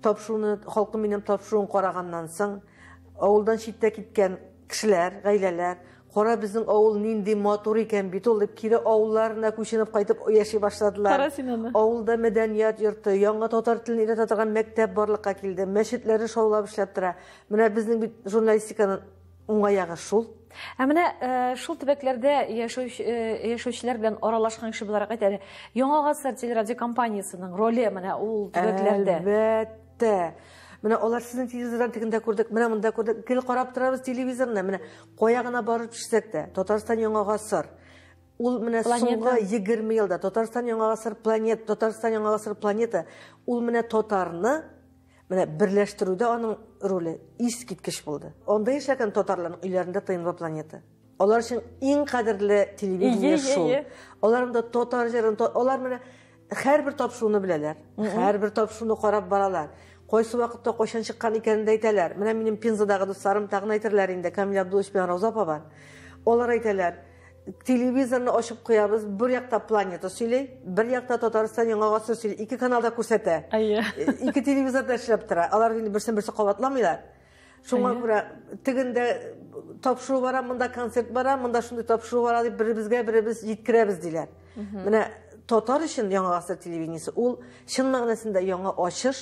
Тапшыруны, халкым минем тапшыруын караганнан соң, авылдан читтә киткән кешеләр, гаиләләр, кара безнең авыл нинди матур икән бит ул дип кире авылларына күченеп кайтып яши башладылар. Кара син аны. Авылда мәдәният йорты, яңа татар телен өйрәтә торган мәктәп барлыкка килде. Мәчетләре шаулап эшләп тора. Менә безнең бит журналистиканы Уңай ягы шул. Ә менә э, шул төбәкләрдә яшәүче э, яшәүчеләр белән аралашкан кеше буларак әйт әле, Яңа гасыр телерадиокомпаниясенең роле менә ул төбәкләрдә. Әлбәттә. Менә алар сезнең телевизордан тегендә күрдек, менә монда күрдек, гел карап торабыз телевизорны. Менә кая гына барып төшсәк тә, Татарстан Яңа гасыр. Ул менә соңгы 20 елда Татарстан Яңа гасыр планета, Татарстан Яңа гасыр планета. Ул менә татарны Менә берләштерүдә аның роле искиткеч булды. Анда яшәгән татарларның өйләрендә тыйнлы планета. Алар өчен иң кадерле телевидение шул. Алар монда татар җырын, алар менә һәрбер тапшыруны беләләр. Һәрбер тапшыруны карап баралар. Кайсы вакытта кайчан чыккан икәнен дә әйтәләр. Менә минем Пензадагы дусларым тагын әйтерләр инде, Камил Абдулович белән Рауза апа бар. Алар әйтәләр. Телевизорны ачып куябыз, бер якта планета сөйли, бер якта Татарстан яңа гасыр сөйли. Ике каналда күрсәтә. Әйе. Ике телевизорда эшләп тора. Алар инде берсен берсе кабатламыйлар. Шуңа күрә тегендә тапшыру бара, монда концерт бара, монда шундый тапшыру бара дип беребезгә беребез җиткерәбез диләр. Менә татар өчен яңа гасыр телевидениесе ул чын мәгънәсендә яңа ачыш,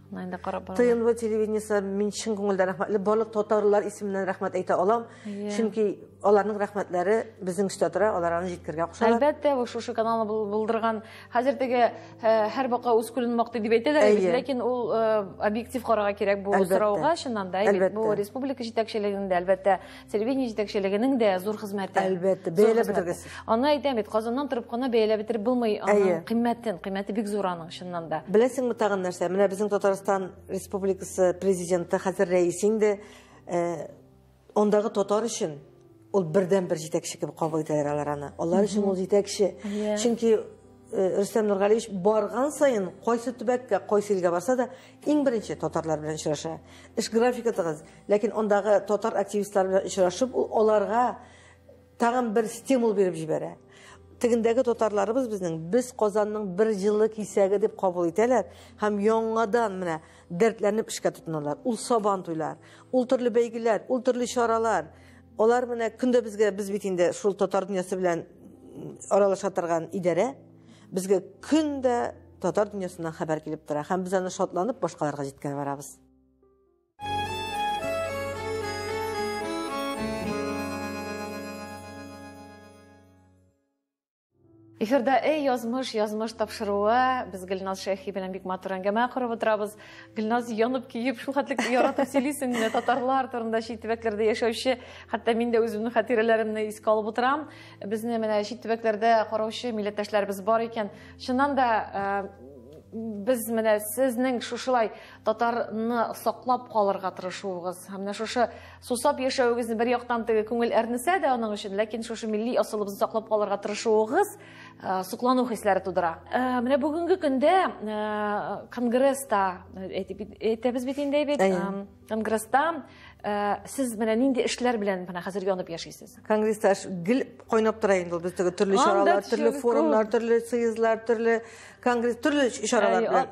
Нәндә карап барам. ТНВ телевидениесе мин чын күңелдән рәхмәтле. Барлык татарлар исеменнән рәхмәт әйтә алам. Чөнки аларның рәхмәтләре безнең өстә тора, алар аны җиткергә кушалар. Әлбәттә, бу шушы каналны булдырган. Хәзер теге һәр бака үз күлен мактый дип әйтәләр, ләкин ул объектив карарга кирәк бу сорауга, чыннан да, бу республика җитәкчелегендә, әлбәттә, телевидение җитәкчелегенең дә зур хезмәте. Әлбәттә, бәяләп бетергесез. Аны әйтәм бит, Казаннан торып кына бәяләп бетереп булмый аның кыйммәтен. Кыйммәте бик зур аның чыннан да. Беләсеңме тагын нәрсә? Менә безнең Татарстан Республикасы президенты хәзер рәис инде. Э, ондагы татар өчен ул бердән бер җитәкче кебек кабул итәләр алар аны. Алар өчен ул җитәкче. Чөнки Э, Рөстәм Нургалиевич барган сайын кайсы төбәккә, кайсы илгә барса да иң беренче татарлар белән очраша. Эш графикатыгыз, Ләкин андагы татар активистлары белән очрашып, ул аларга тагын бер стимул биреп җибәрә. Тегендәге татарларыбыз безнең без Казанның бер җылы кисәге дип кабул итәләр һәм яңадан менә дәртләнеп эшкә тотыналар. Ул сабан туйлар, ул төрле бәйгеләр, ул төрле чаралар. Алар менә көндә безгә без бит инде шул татар дөньясы белән аралаша торган идарә. Безгә көндә татар дөньясыннан хәбәр килеп тора һәм без аны шатланып башкаларга җиткерә барабыз. Эфирда эй язмыш, язмыш тапшыруы. Без Гөлназ Шәйхи белән бик матур әңгәмә корып утырабыз. Гөлназ янып киеп, шул хәтлек яратып сөйлисең менә татарлар турында чит төбәкләрдә яшәүче, хәтта мин дә үземнең хатирәләремне искә алып утырам. Безне менә чит төбәкләрдә караучы милләттәшләребез бар икән. Чыннан да э, без менә сезнең шушылай татарны саклап калырга тырышуыгыз һәм менә шушы сусап яшәвегезне бер яктан теге күңел әрнесә дә аның өчен ләкин шушы милли асылыбызны саклап калырга тырышуыгыз э, соклану хисләре тудыра э, менә бүгенге көндә э, конгресста әйтәбез бит инде бит конгресста сез менә нинди эшләр белән менә хәзер янып яшисез конгресста гел кайнап тора инде ул төрле чаралар төрле форумнар төрле съездлар төрле конгресс төрле чаралар белән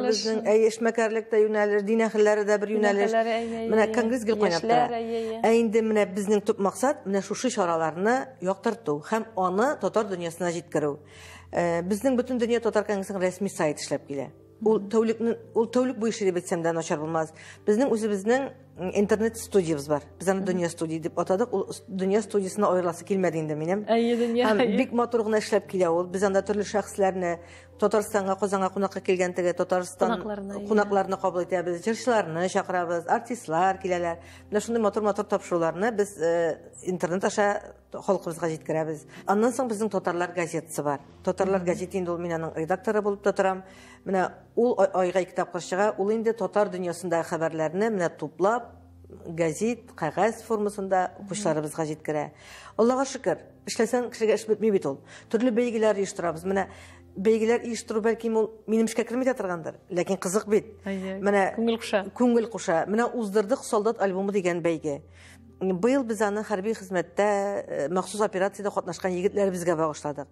безнең әй эшмәкәрлек тә юнәлеш дин әһелләре дә бер юнәлеш менә конгресс гел кайнап тора ә инде менә безнең төп максат менә шушы чараларны яктырту һәм аны татар дөньясына җиткерү безнең бөтен дөнья татар конгрессының рәсми сайты эшләп килә Ул тәүлекне ул тәүлек буе эшли дип әйтсәм дә начар булмас. Безнең үзебезнең интернет студиябез бар. Без аны Дөнья студия дип атадык. Ул Дөнья студиясенә аерыласы килмәде инде минем. Әйе, Дөнья. Һәм бик матур гына эшләп килә ул. Без анда төрле шәхесләрне, Татарстанга, Казанга кунакка килгән теге Татарстан кунакларны кабул итәбез, җырчыларны чакырабыз, артистлар киләләр. Менә шундый матур-матур тапшыруларны без э, интернет аша халкыбызга җиткерәбез. Аннан соң безнең татарлар газетасы бар. Татарлар газеты инде ул мин аның редакторы булып та торам. Менә ул айга ике тапкыр чыга. Ул инде татар дөньясындагы хәбәрләрне менә туплап, газет, кәгазь формасында укучыларыбызга җиткерә. Аллага шөкер, эшләсәң кешегә эш бетми бит ул. Төрле бәйгеләр оештырабыз. Менә бәйгеләр оештыру бәлки ул минем эшкә керми дә торгандыр, ләкин кызык бит. Менә күңел куша. Күңел куша. Менә уздырдык солдат альбомы дигән бәйге. Быел без аны хәрби хезмәттә э, махсус операциядә катнашкан егетләребезгә багышладык.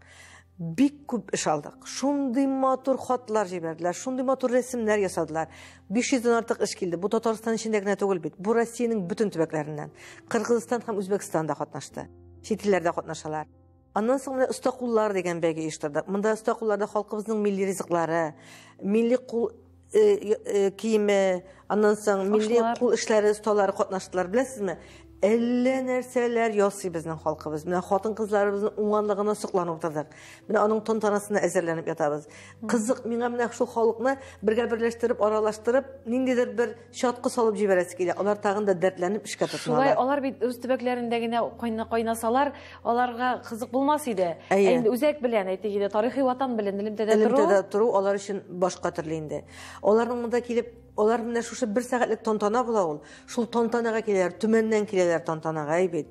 Бик күп эш алдык. Шундый матур хатлар җибәрделәр, шундый матур рәсемнәр ясадылар. 500 дән артык эш килде. Бу Татарстан эчендә генә түгел бит. Бу Россиянең бөтен төбәкләреннән. Кыргызстан һәм Үзбәкстан да катнашты. Чит илләрдә катнашалар. Аннан соң менә оста куллар дигән бәйге оештырдык. Монда оста кулларда халкыбызның милли ризыклары, милли кул э, э, киеме, аннан соң милли кул эшләре осталары катнаштылар. Беләсезме? Әллә нәрсәләр ясый безнең халкыбыз. Менә хатын-кызларыбызның уңганлыгына сокланып утырдык. Менә аның тантанасына әзерләнеп ятабыз. Кызык, миңа менә шул халыкны бергә берләштереп, аралаштырып, ниндидер бер Чаткы салып җибәрәсе килә. Алар тагын да дәртләнеп эшкә тотыналар. Шулай, алар бит үз төбәкләрендә генә кайнасалар, аларга кызык булмас иде. Әйе. үзәк белән, әйтик инде, тарихи ватан белән элемтәдә тору. Элемтәдә тору алар өчен башка төрле инде. Аларның монда килеп, алар менә шушы бер сәгатьлек тантана була ул. Шул тантанага киләләр, Төмәннән киләләр тантанага, әйбит.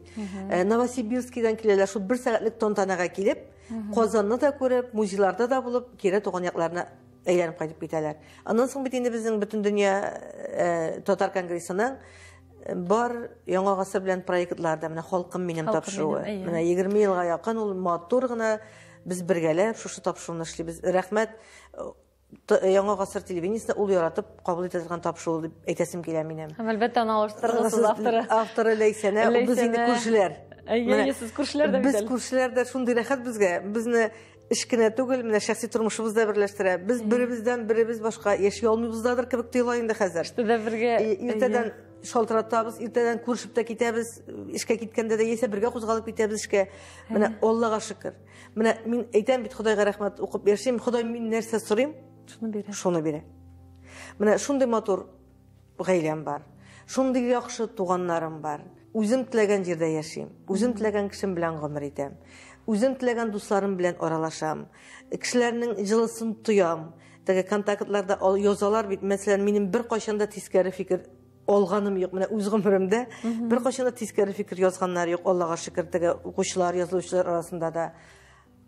Э, Новосибирскидан киләләр, шул бер сәгатьлек тантанага килеп, Казанны да күреп, музейларда да булып, кире туган якларына Әйләнеп кайтып китәләр. Аннан соң бит инде безнең бөтен дөнья э, татар конгрессының э, бар яңа гасыр белән проектлар да менә халкым минем тапшыруы. Менә 20 елга якын ул матур гына без бергәләп шушы тапшыруны эшлибез. Рәхмәт э, яңа гасыр телевидениесенә ул яратып кабул итә торган тапшыру дип әйтәсем килә минем. Һәм әлбәттә аны алыштырыгыз авторы. Авторы Ләйсәнә, без инде күршеләр. Әйе, сез күршеләр дә бит. Без күршеләр дә шундый рәхәт безгә. Безне эш кенә түгел, менә шәхси тормышыбыз да берләштерә. Без беребездән беребез башка яши алмыйбыздадыр кебек тоела инде хәзер. Штыда бергә иртәдән шалтыратабыз, иртәдән күрешеп тә китәбез, эшкә киткәндә дә яисә бергә кузгалып китәбез эшкә. Менә Аллага шөкер. Менә мин әйтәм бит Худайга рәхмәт укып яшим. Ходай мин нәрсә сорыйм? Шуны бирә. Шуны бирә. Менә шундый матур Гаиләм бар. Шундый яхшы туганнарым бар. Үзем теләгән җирдә яшим. Үзем теләгән кешем белән гомер итәм. Үзем теләгән дусларым белән аралашам. Кешеләрнең җылысын тоям. Теге контактларда язалар бит, мәсәлән, минем беркайчан да тискәре фикер алганым юк. Менә үз гомеремдә беркайчан да тискәре фикер язганнар юк, Аллага шөкер, теге укучылар, язылучылар арасында да.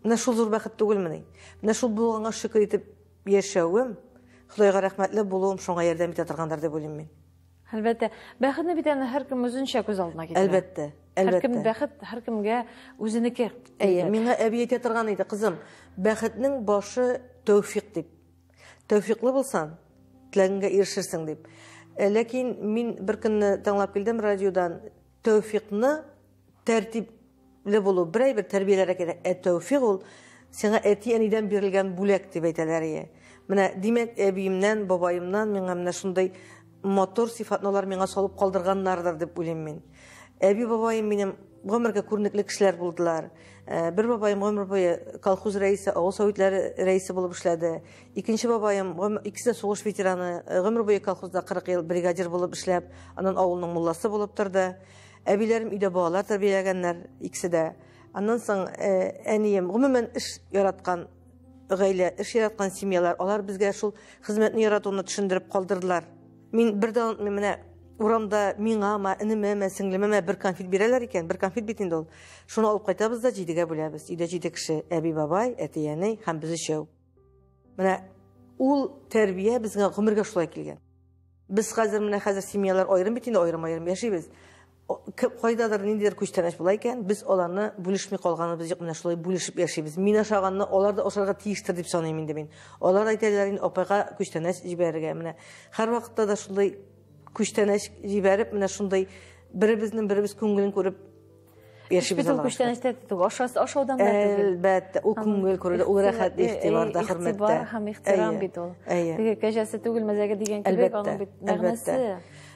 Менә шул зур бәхет түгелмени? Менә шул булганга шөкер итеп Яшәвем, Ходайга рәхмәтле булуым шуңа ярдәм итә торгандыр дип уйлыйм мин. Әлбәттә. Бәхетне бит әнә һәркем үзенчә күз алдына китерә. Әлбәттә. Әлбәттә. Һәркем бәхет һәркемгә үзенеке. Әйе, миңа әби әйтә торган иде, кызым, бәхетнең башы тәүфик дип. Тәүфиклы булсаң, теләгеңгә ирешерсең дип. Ләкин мин беркөнне тыңлап килдем радиодан, тәүфикны Тәртипле булу, берәй бер тәрбияләр кирәк. Ә тәүфик ул сиңа әти-әнидән бирелгән бүләк, дип әйтәләр ие. Менә, димәк, әбиемнән, бабаемнан миңа менә шундый матур сыйфатны алар миңа салып калдырганнардыр, дип уйлыйм мин. Әби-бабаем минем гомергә күренекле кешеләр булдылар. Бер бабаем гомер буе колхоз рәисе, авыл советлары рәисе булып эшләде. Икенче бабаем, икесе дә сугыш ветераны, гомер буе колхозда 40 ел бригадир булып эшләп, аннан авылның мулласы булып торды. Әбиләрем өйдә балалар тәрбияләгәннәр, икесе дә. Аннан соң э, әнием, гомумән, эш яраткан гаилә, эш яраткан семьялар, алар безгә шул хезмәтне яратуны төшендереп калдырдылар. Мин бер дә онытмыйм, менә урамда миңа ма, инеме ма, сеңлеме ма бер конфет бирәләр икән, бер конфет бит инде ул. Шуны алып кайтабыз да җидегә бүләбез. Өйдә җиде кеше, әби, бабай, әти, әни һәм без өчәү. Менә ул тәрбия безгә гомергә шулай килгән. Без хәзер менә хәзер семьялар аерым бит инде аерым-аерым яшибез. Кайдадыр ниндидер күчтәнәч була икән, без аларны бүлешми калганыбыз юк, менә шулай бүлешеп яшибез. Мин ашаганны алар да ашарга тиештер дип саныйм инде мин. Алар әйтәләр инде апайга күчтәнәч җибәрергә. Менә һәрвакытта да шундый күчтәнәч җибәреп, менә шундый беребезнең беребез күңелен күреп Шпитал күчтәнәчтә түгел, ашасы ашаудан да түгел. Әлбәттә, ул күңел күрелә, ул рәхәт ихтибарда, хөрмәттә. Ихтибар һәм ихтирам бит ул. Теге кәҗәсе түгел мәзәге дигән кебек аның бит мәгънәсе.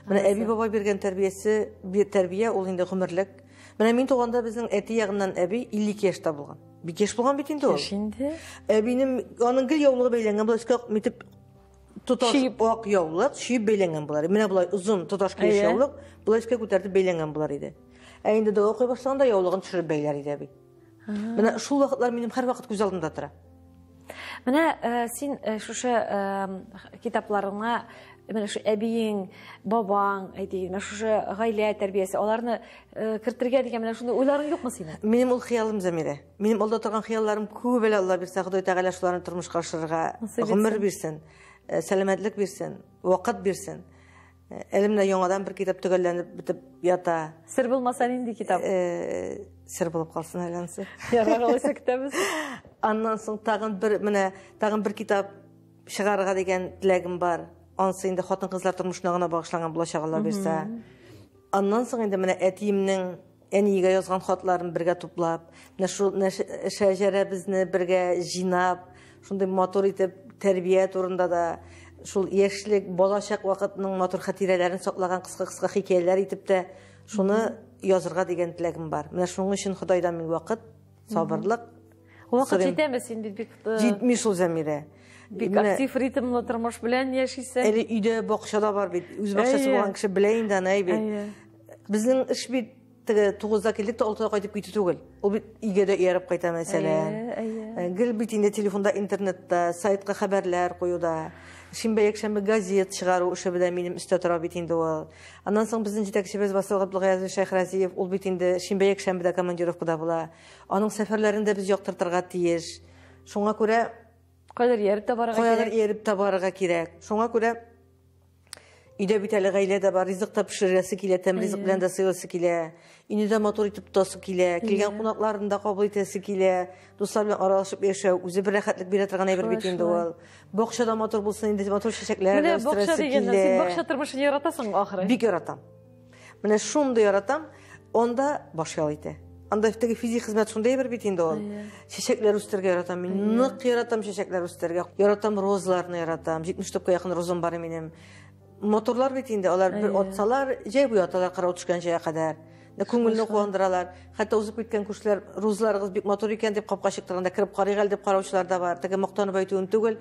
Менә әби бабай биргән тәрбиясе, бир тәрбия ул инде гомерлек. Менә мин туганда безнең әти ягыннан әби 52 яшьтә булган. Бик яшь булган бит инде ул. Яшь инде. Әбинең аның гел яулыгы бәйләнгән, була искә митеп тоташ чип. ак яулык, чип бәйләнгән булар. Менә болай озын тоташ килеш Әйе. яулык, болай өскә күтәртеп бәйләнгән булар иде. Ә инде дога укый башлаганда яулыгын төшереп бәйләр иде әби. Менә шул вакытлар минем һәрвакыт күз алдымда тора. Менә э, син э, шушы э, китапларыңа менә шу әбиең, бабаң, әйтик, менә шушы гаилә тәрбиясе, аларны э, кертергә дигән менә шундый уйларың юкмы синең? Минем ул хыялым Замирә. Минем алда торган хыялларым күп әле Алла бирсә, Ходай Тәгалә шуларны тормышка ашырырга гомер бирсен, э, сәламәтлек бирсен, вакыт бирсен. Э, әле менә яңадан бер китап төгәлләнеп бетеп ята. Сер булмаса нинди китап? Э, сер булып калсын әле ансы. Ярар, алайса көтәбез. Аннан соң тагын бер менә тагын бер китап чыгарырга дигән теләгем бар. Ансы инде хатын-кызлар тормышына гына багышланган булачак Алла бирсә. Аннан соң инде менә әтиемнең Әниегә язган хатларын бергә туплап, менә шул шәҗәрәбезне бергә җыйнап, шундый матур итеп тәрбия турында да, шул яшьлек, балачак вакытының матур хатирәләрен саклаган кыска-кыска хикәяләр итеп тә шуны язырга дигән теләгем бар. Менә шуның өчен Ходайдан мин вакыт, сабырлык. Вакыт җитәме син бит бик э, Җитми шул Зәмирә. Бик актив ритмлы тормыш белән яшисең. Әле өйдә бакчада бар бит. Үз бакчасы булган кеше белә инде аны, әй бит. Безнең эш бит теге тугызда килдек тә алтыда кайтып китү түгел. Ул бит өйгә дә ияреп кайта мәсәлән. Ә, ә. Гел бит инде телефонда, интернетта, сайтка хәбәрләр куюда. Шимбә якшәмбе газет чыгару эше белән минем өстә тора бит инде ул. Аннан соң безнең җитәкчебез Васил Габдулгаязович Шәйхразиев, ул бит инде шимбә якшәмбедә командировкада була. Аның сәфәрләрен дә без яктыртырга тиеш. Шуңа күрә кайдыр ияреп тә барырга кирәк. Кайдыр ияреп тә барырга кирәк. Шуңа күрә Өйдә бит әле гаилә дә бар, ризык та пешерәсе килә, тәм ризык белән дә сыйласы килә. Өйне дә матур итеп тотасы килә, килгән кунакларын да кабул итәсе килә. Дуслар белән аралашып яшәү үзе бер рәхәтлек бирә торган әйбер бит инде ул. Бакча да матур булсын, инде матур чәчәкләр дә үстерәсе килә. Менә бакча дигәннән, син бакча тормышын яратасың, ахры. Бик яратам. Менә шундый яратам, анда баш ял итә. Анда теге физик хезмәт шундый бер бит инде ул. Чәчәкләр үстергә яратам мин. Нык яратам чәчәкләр үстергә. Яратам розаларны яратам. 70 топка якын розам бар минем. Моторлар бит инде, алар бер отсалар, җәй буе аталар карау төшкән җәйгә кадәр. Нә күңелне куандыралар. Хәтта узып киткән күршеләр розаларыгыз бик матур икән дип капка чыктырганда кереп карыйк әле дип караучылар да бар. Теге мактанып әйтүем түгел.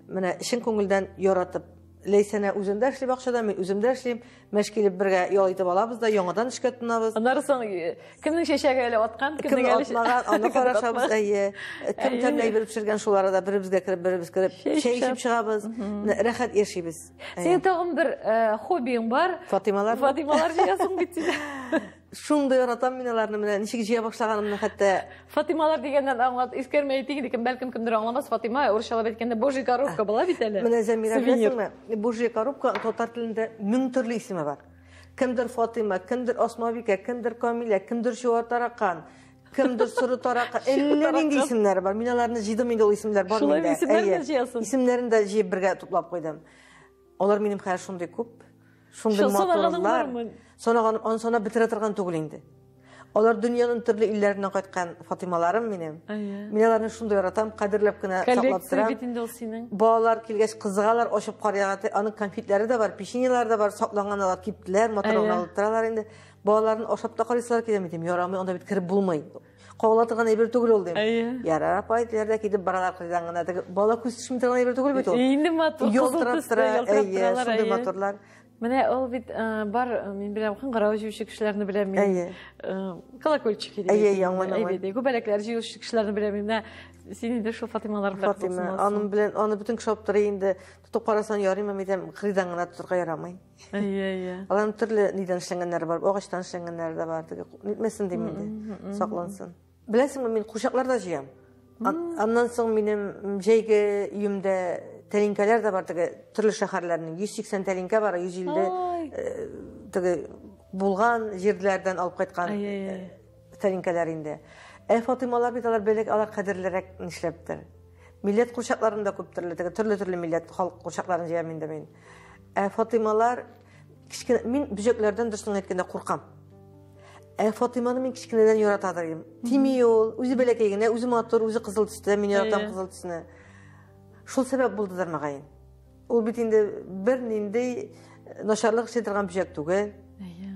Менә чын күңелдән яратып. Ләйсәнә үзендә эшли бакчада, мин үземдә эшлим. Мәш килеп бергә ял итеп алабыз да, яңадан эшкә тотынабыз. Аннары соң э, кемнең чәчәге әле аткан, кемнең әле атмаган, аны карашабыз, әйе. Кем тәмле әйбер пешергән шулары да беребезгә кереп, беребез кереп, чәй эчеп чыгабыз. Рәхәт яшибез. Синең тагын бер э, хоббиң бар. Фатималар. Фатималар җыясың бит син. Шундый яратам мин аларны менә ничек җыя башлаганымны хәтта. Фатималар дигәннән аңлат, искәрмә әйтик инде, бәлкем кемдер аңламас, Фатима урысчалап әйткәндә божий коробка була бит әле. Менә Зәмирә беләсеңме? Божий коробка татар телендә мең төрле исеме бар. Кемдер Фатима, кемдер Асмабикә, кемдер Камилә, кемдер Чуа таракан, кемдер соры таракан. Әллә нинди исемнәр бар. Мин аларны җыйдым инде ул исемнәр бар миндә. Шулай исемнәрне җыясың. Исемнәрен дә җыеп бергә туплап куйдым. Алар минем хәзер шундый күп, шундый матурлар. Санаган, аны санап бетерә торган түгел инде. Алар дөньяның төрле илләреннән кайткан Фатималарым минем. Мин аларны шундый яратам, кадерләп кенә саклап торам. Балалар килгәч кызыгалар, ачып карыйлар. Аның конфетлары да бар, печеньелары да бар, сакланган алар киптеләр, матурланып торалар инде. Балаларын ашап та карыйсызлар килә мидем, ярамый, анда бит кереп булмый. Кагыла торган әйбер түгел ул, дим. Әйе. Яра, апай, диләрдә китеп баралар кырдан гына. Теге бала күз төшми торган әйбер түгел бит ул. Инде матур, ялтырап тора, әйе, шундый матурлар. Менә ул бит бар, мин беләм, кыңгырау җыючы кешеләрне беләм мин. Әйе. Колокольчик иде. Әйе, яңгын. Әйе, күбәләкләр җыючы кешеләрне беләм мин. Менә син инде шул Фатималар белән. Фатима, аның белән, аны бөтен кеше алып тора инде. Тотып карасаң ярыймы, мидәм, кырдан гына тотырга ярамый. Әйе, әйе. Аларның төрле нидән эшләнгәннәре бар, агачтан эшләнгәннәре дә бар. Теге нитмәсен дим инде, саклансын. Беләсеңме, мин кушаклар да җыям. Аннан соң минем җәйге өемдә тәлинкәләр дә бар, теге төрле шәһәрләрнең 180 тәлинкә бар, 150 э, теге булган җирләрдән алып кайткан э, тәлинкәләр инде. Ә Фатималар бит алар белек, алар кадерлерәк нишләптер. Милләт кушакларында күп төрле, теге төрле-төрле милләт халык кушакларын җыям инде мин. Ә Фатималар кичкене мин бөҗәкләрдән дөресен әйткәндә куркам. Ә Фатиманы мин кичкенедән ярата дим. Тими ул, үзе бәләкәй генә, үзе матур, үзе кызыл төстә, мин яратам кызыл төсне. Шул сәбәп булдыдыр мәгаен. Ул бит инде бер нинди э, начарлык эшли торган бөҗәк түгел.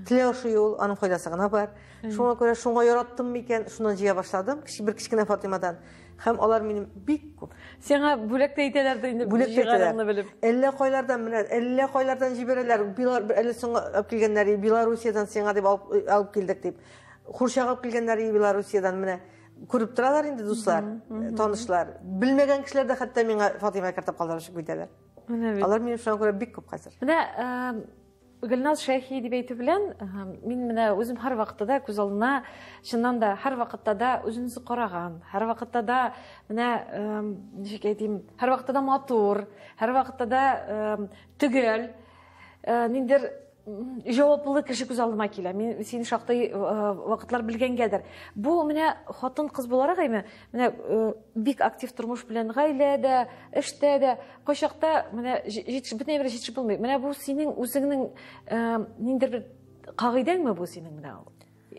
Теле ашу юл, аның файдасы гына бар. Шуңа күрә шуңа яраттым микән, шуннан җыя башладым. Кичек бер кичкенә Фатимадан. Хәм алар минем бик күп. Сиңа бүләк тә итәләрдер инде бүләк җигарыңны белеп. Әллә кайлардан менә, әллә кайлардан җибәрәләр. Билар әле соңга алып килгәннәр, Белоруссиядән сиңа дип алып, алып килдек дип. Хурчак алып килгәннәр Белоруссиядән менә. Күреп торалар инде дуслар, танышлар. Белмәгән кешеләр дә хәтта миңа Фатыйма картап калдырып чыгып китәләр. Алар минем шуңа күрә бик күп хәзер. Менә Гөлназ Шәйхи дип әйтү белән, мин менә үзем һәрвакытта да күз алдына, чыннан да, һәрвакытта да үземне караган, һәрвакытта да менә ничек әйтим, һәрвакытта да матур, һәрвакытта да төгәл, э, ниндер җаваплы кеше күз алдыма килә. Мин сине шактый э, вакытлар белгәнгәдер. Бу менә хатын-кыз буларак әйме, Менә э, бик актив тормыш белән гаиләдә, эштә дә, кайчакта менә җитеш бөтен бер җитеш булмый. Менә бу синең үзеңнең э, ниндер бер кагыйдәңме бу синең менә ул?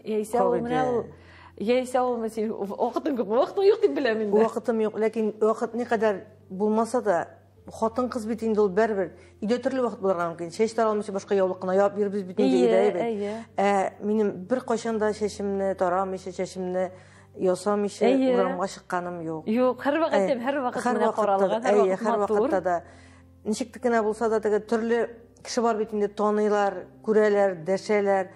Яисә ул менә ул яисә ул менә синең вакытың күпме? Вакытың юк дип беләм инде. Вакытым юк, ләкин вакыт никадәр булмаса да, хатын кыз бит инде ул бербер. Өйдә төрле вакыт булырга мөмкин. Чәч таралмыйча башка яулык кына яп бирбез бит инде өйдә. Әйе, әйе. Ә минем бер кайчан да чәчемне тарамыйча, чәчемне Ясамыйча урамга чыкканым юк. Юк, һәрвакыт әйтәм, һәрвакыт менә каралган, һәрвакыт матур. Һәрвакытта да ничек тә генә булса да теге төрле кеше бар бит инде таныйлар, күрәләр, дәшәләр.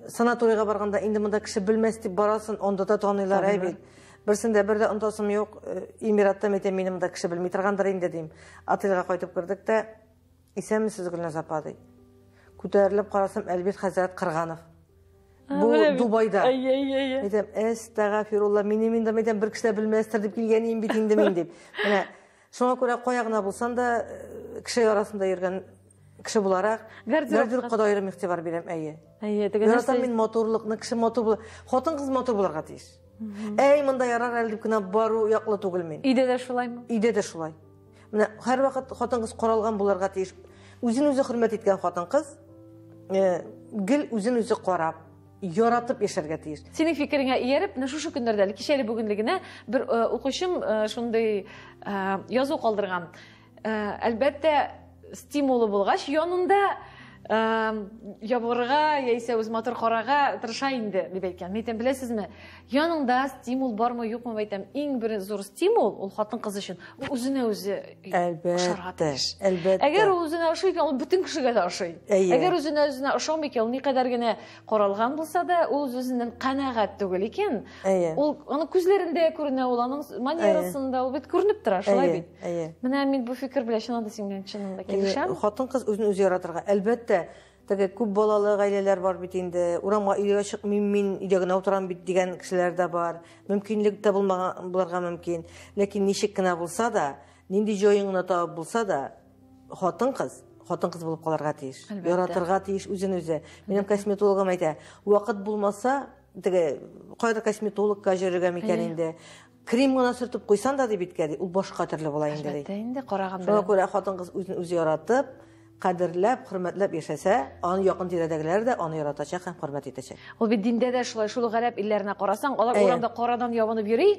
Санаторийга барганда инде монда кеше белмәс дип барасын, анда да таныйлар әй бит. Берсендә бер дә онтасым юк. Эмиратта мәйтәм минем монда кеше белми торгандыр инде дим. Отельга кайтып кердек тә Исәнмесез, Гөлназ апа, ди. Күтәрелеп карасам, Әлбит хәзрәт Кырганов. Бу Дубайда. Әйтәм, әстәгафирулла, минем инде мәйтәм бер кешеләр белмәстер дип килгән идем бит инде мин дип. Менә шуңа күрә кая гына булсам да э, кеше арасында йөргән кеше буларак гардеробка да аерым игътибар бирәм, әйе. Әйе, теге нәрсә. Яратам мин матурлыкны, кеше матур була. Хатын кыз матур буларга тиеш. Әй, монда ярар әле дип кенә бару яклы түгел мин. Иде дә шулаймы? Иде дә шулай. Менә һәрвакыт хатын-кыз каралган булырга тиеш. Үзен-үзе хөрмәт иткән хатын-кыз э, гел үзен-үзе карап, яратып яшәргә тиеш. Синең фикереңә ияреп, менә шушы көннәрдә әле кичәле бүгенле генә бер э, укучым э, шундый э, язу калдырган. Э, әлбәттә, стимулы булгач, янында э, ябырга яисә үз матур карага тырыша инде, дип әйткән. Мин әйтәм, беләсезме, Яныңда стимул бармы юкмы әйтәм, иң бер зур стимул ул хатын-кыз өчен үзенә үзе ошарга тиеш. Әлбәттә. Әгәр ул үзенә ошый икән, ул бөтен кешегә дә ошый. Әгәр үзенә үзенә ошамый икән, ул никадәр генә каралган булса да, ул үзеннән канәгать түгел икән. Ул аны күзләрендә күренә, ул аның манерасында, ул бит күренеп тора, шулай бит. Менә мин бу фикер белән чыннан да синең белән чыннан да килешәм. Хатын-кыз үзен үзе яратырга, әлбәттә, Теге күп балалы гаиләләр бар бит инде, урамга өйгә чыкмыйм мин, өйдә генә утырам бит дигән кешеләр дә бар. Мөмкинлек тә булмаган булырга мөмкин. Ләкин ничек кенә булса да, нинди җаен гына табып булса да, хатын-кыз хатын-кыз булып калырга тиеш. Әлбәттә. Яратырга тиеш үзен үзе. Минем косметологым әйтә, вакыт булмаса, теге кайда косметологка җөрергә микән инде? Крем гына сөртеп куйсан да ди биткә ди, ул башка төрле була инде ди. Әлбәттә инде караган белән. Шуңа күрә хатын-кыз үзен үзе яратып, кадерләп, хөрмәтләп яшәсә, аны якын тирәдәгеләр дә аны яратачак һәм хөрмәт итәчәк. Ул бит диндә дә шулай, шул гарәп илләренә карасаң, алар урамда карадан ябынып йөри.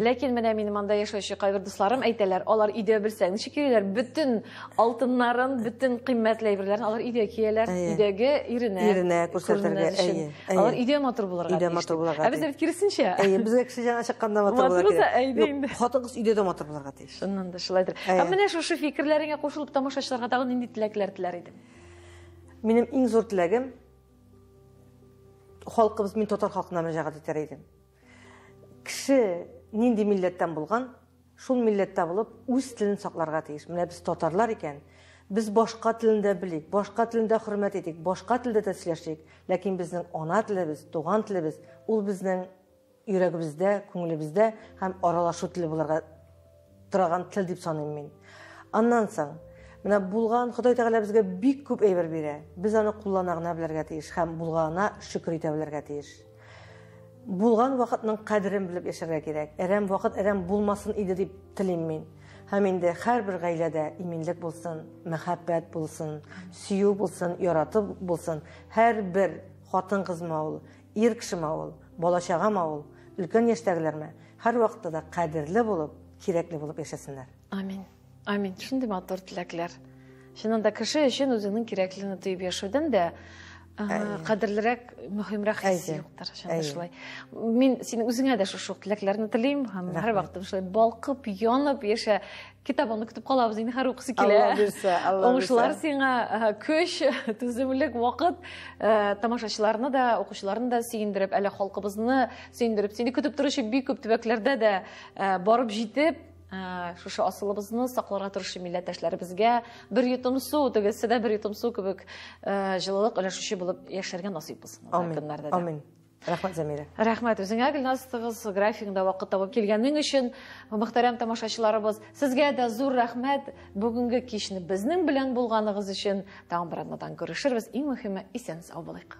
Ләкин менә минем анда яшәүче кайбер дусларым әйтәләр, алар өйдә белсәң, ничек йөриләр, бөтен алтыннарын бөтен кыйммәтле әйберләрен алар өйдә кияләр өйдәге иренә иренә күрсәтергә әйе алар өйдә матур булырга өйдә матур булырга ә бездә бит киресенчә әйе безгә кеше җаны чыкканда матур булырга кирәк хатын кыз өйдә дә матур булырга тиеш шуннан да шулайдыр ә менә шушы фикерләреңә кушылып тамашачыларга тагын нинди теләкләр теләр идең минем иң зур теләгем халкыбыз мин татар халкына мөрәҗәгать итәр идем Кеше нинди милләттән булган, шул милләттә булып, үз телен сакларга тиеш. Менә без татарлар икән, без башка телендә белик, башка телендә хөрмәт итик, башка телдә дә сөйләшик, ләкин безнең ана телебез, туган телебез, ул безнең йөрәгебездә, күңелебездә һәм аралашу теле булырга Тораган тел дип саныйм мин. Аннан соң, менә булган Ходай Тәгалә безгә бик күп әйбер бирә. Без аны куллана гына белергә тиеш һәм булганына шөкер итә белергә тиеш. Булган вакытның кадерен белеп яшәргә кирәк. Әрәм вакыт әрәм булмасын иде дип телим мин. Һәм инде һәрбер гаиләдә иминлек булсын, мәхәббәт булсын, сөю булсын, яратып булсын. Һәрбер хатын-кызма ул Ир кешеме ул, бала-чагамы ул, өлкән яшьтәгеләрме, һәрвакытта да кадерле булып, кирәкле булып яшәсеннәр. Амин. Амин. Шундый матур теләкләр. Чыннан да кеше өчен үзеңнең кирәклене тоеп яшәүдән дә кадерлерәк, мөһимрәк хис юктыр. Чыннан шулай. Мин синең үзеңә дә шушы теләкләрне телим һәм һәрвакытта шулай балкып, янып яшә, китабыңны көтеп калабыз инде һәр укысы килә алла бирсә алла уңышлар сиңа көч түземлек вакыт э, тамашачыларны да укучыларны да сөендереп әле халкыбызны сөендереп сине көтеп торучы бик күп төбәкләрдә дә э, барып җитеп э, шушы асылыбызны сакларга тырышу милләттәшләребезгә бер йотым су тегесе дә бер йотым су кебек җылылык өләшүче булып яшәргә насыйп булсын амин амин Рәхмәт, Зәмирә. Рәхмәт үзеңә, Гөлназ кыз, графигыңда вакыт табып килгәнең өчен. Мөхтәрәм тамашачыларыбыз, сезгә дә зур рәхмәт бүгенге кичне безнең белән булганыгыз өчен. Тагын бер атнадан күрешербез. Иң мөһиме, исән сау булыйк.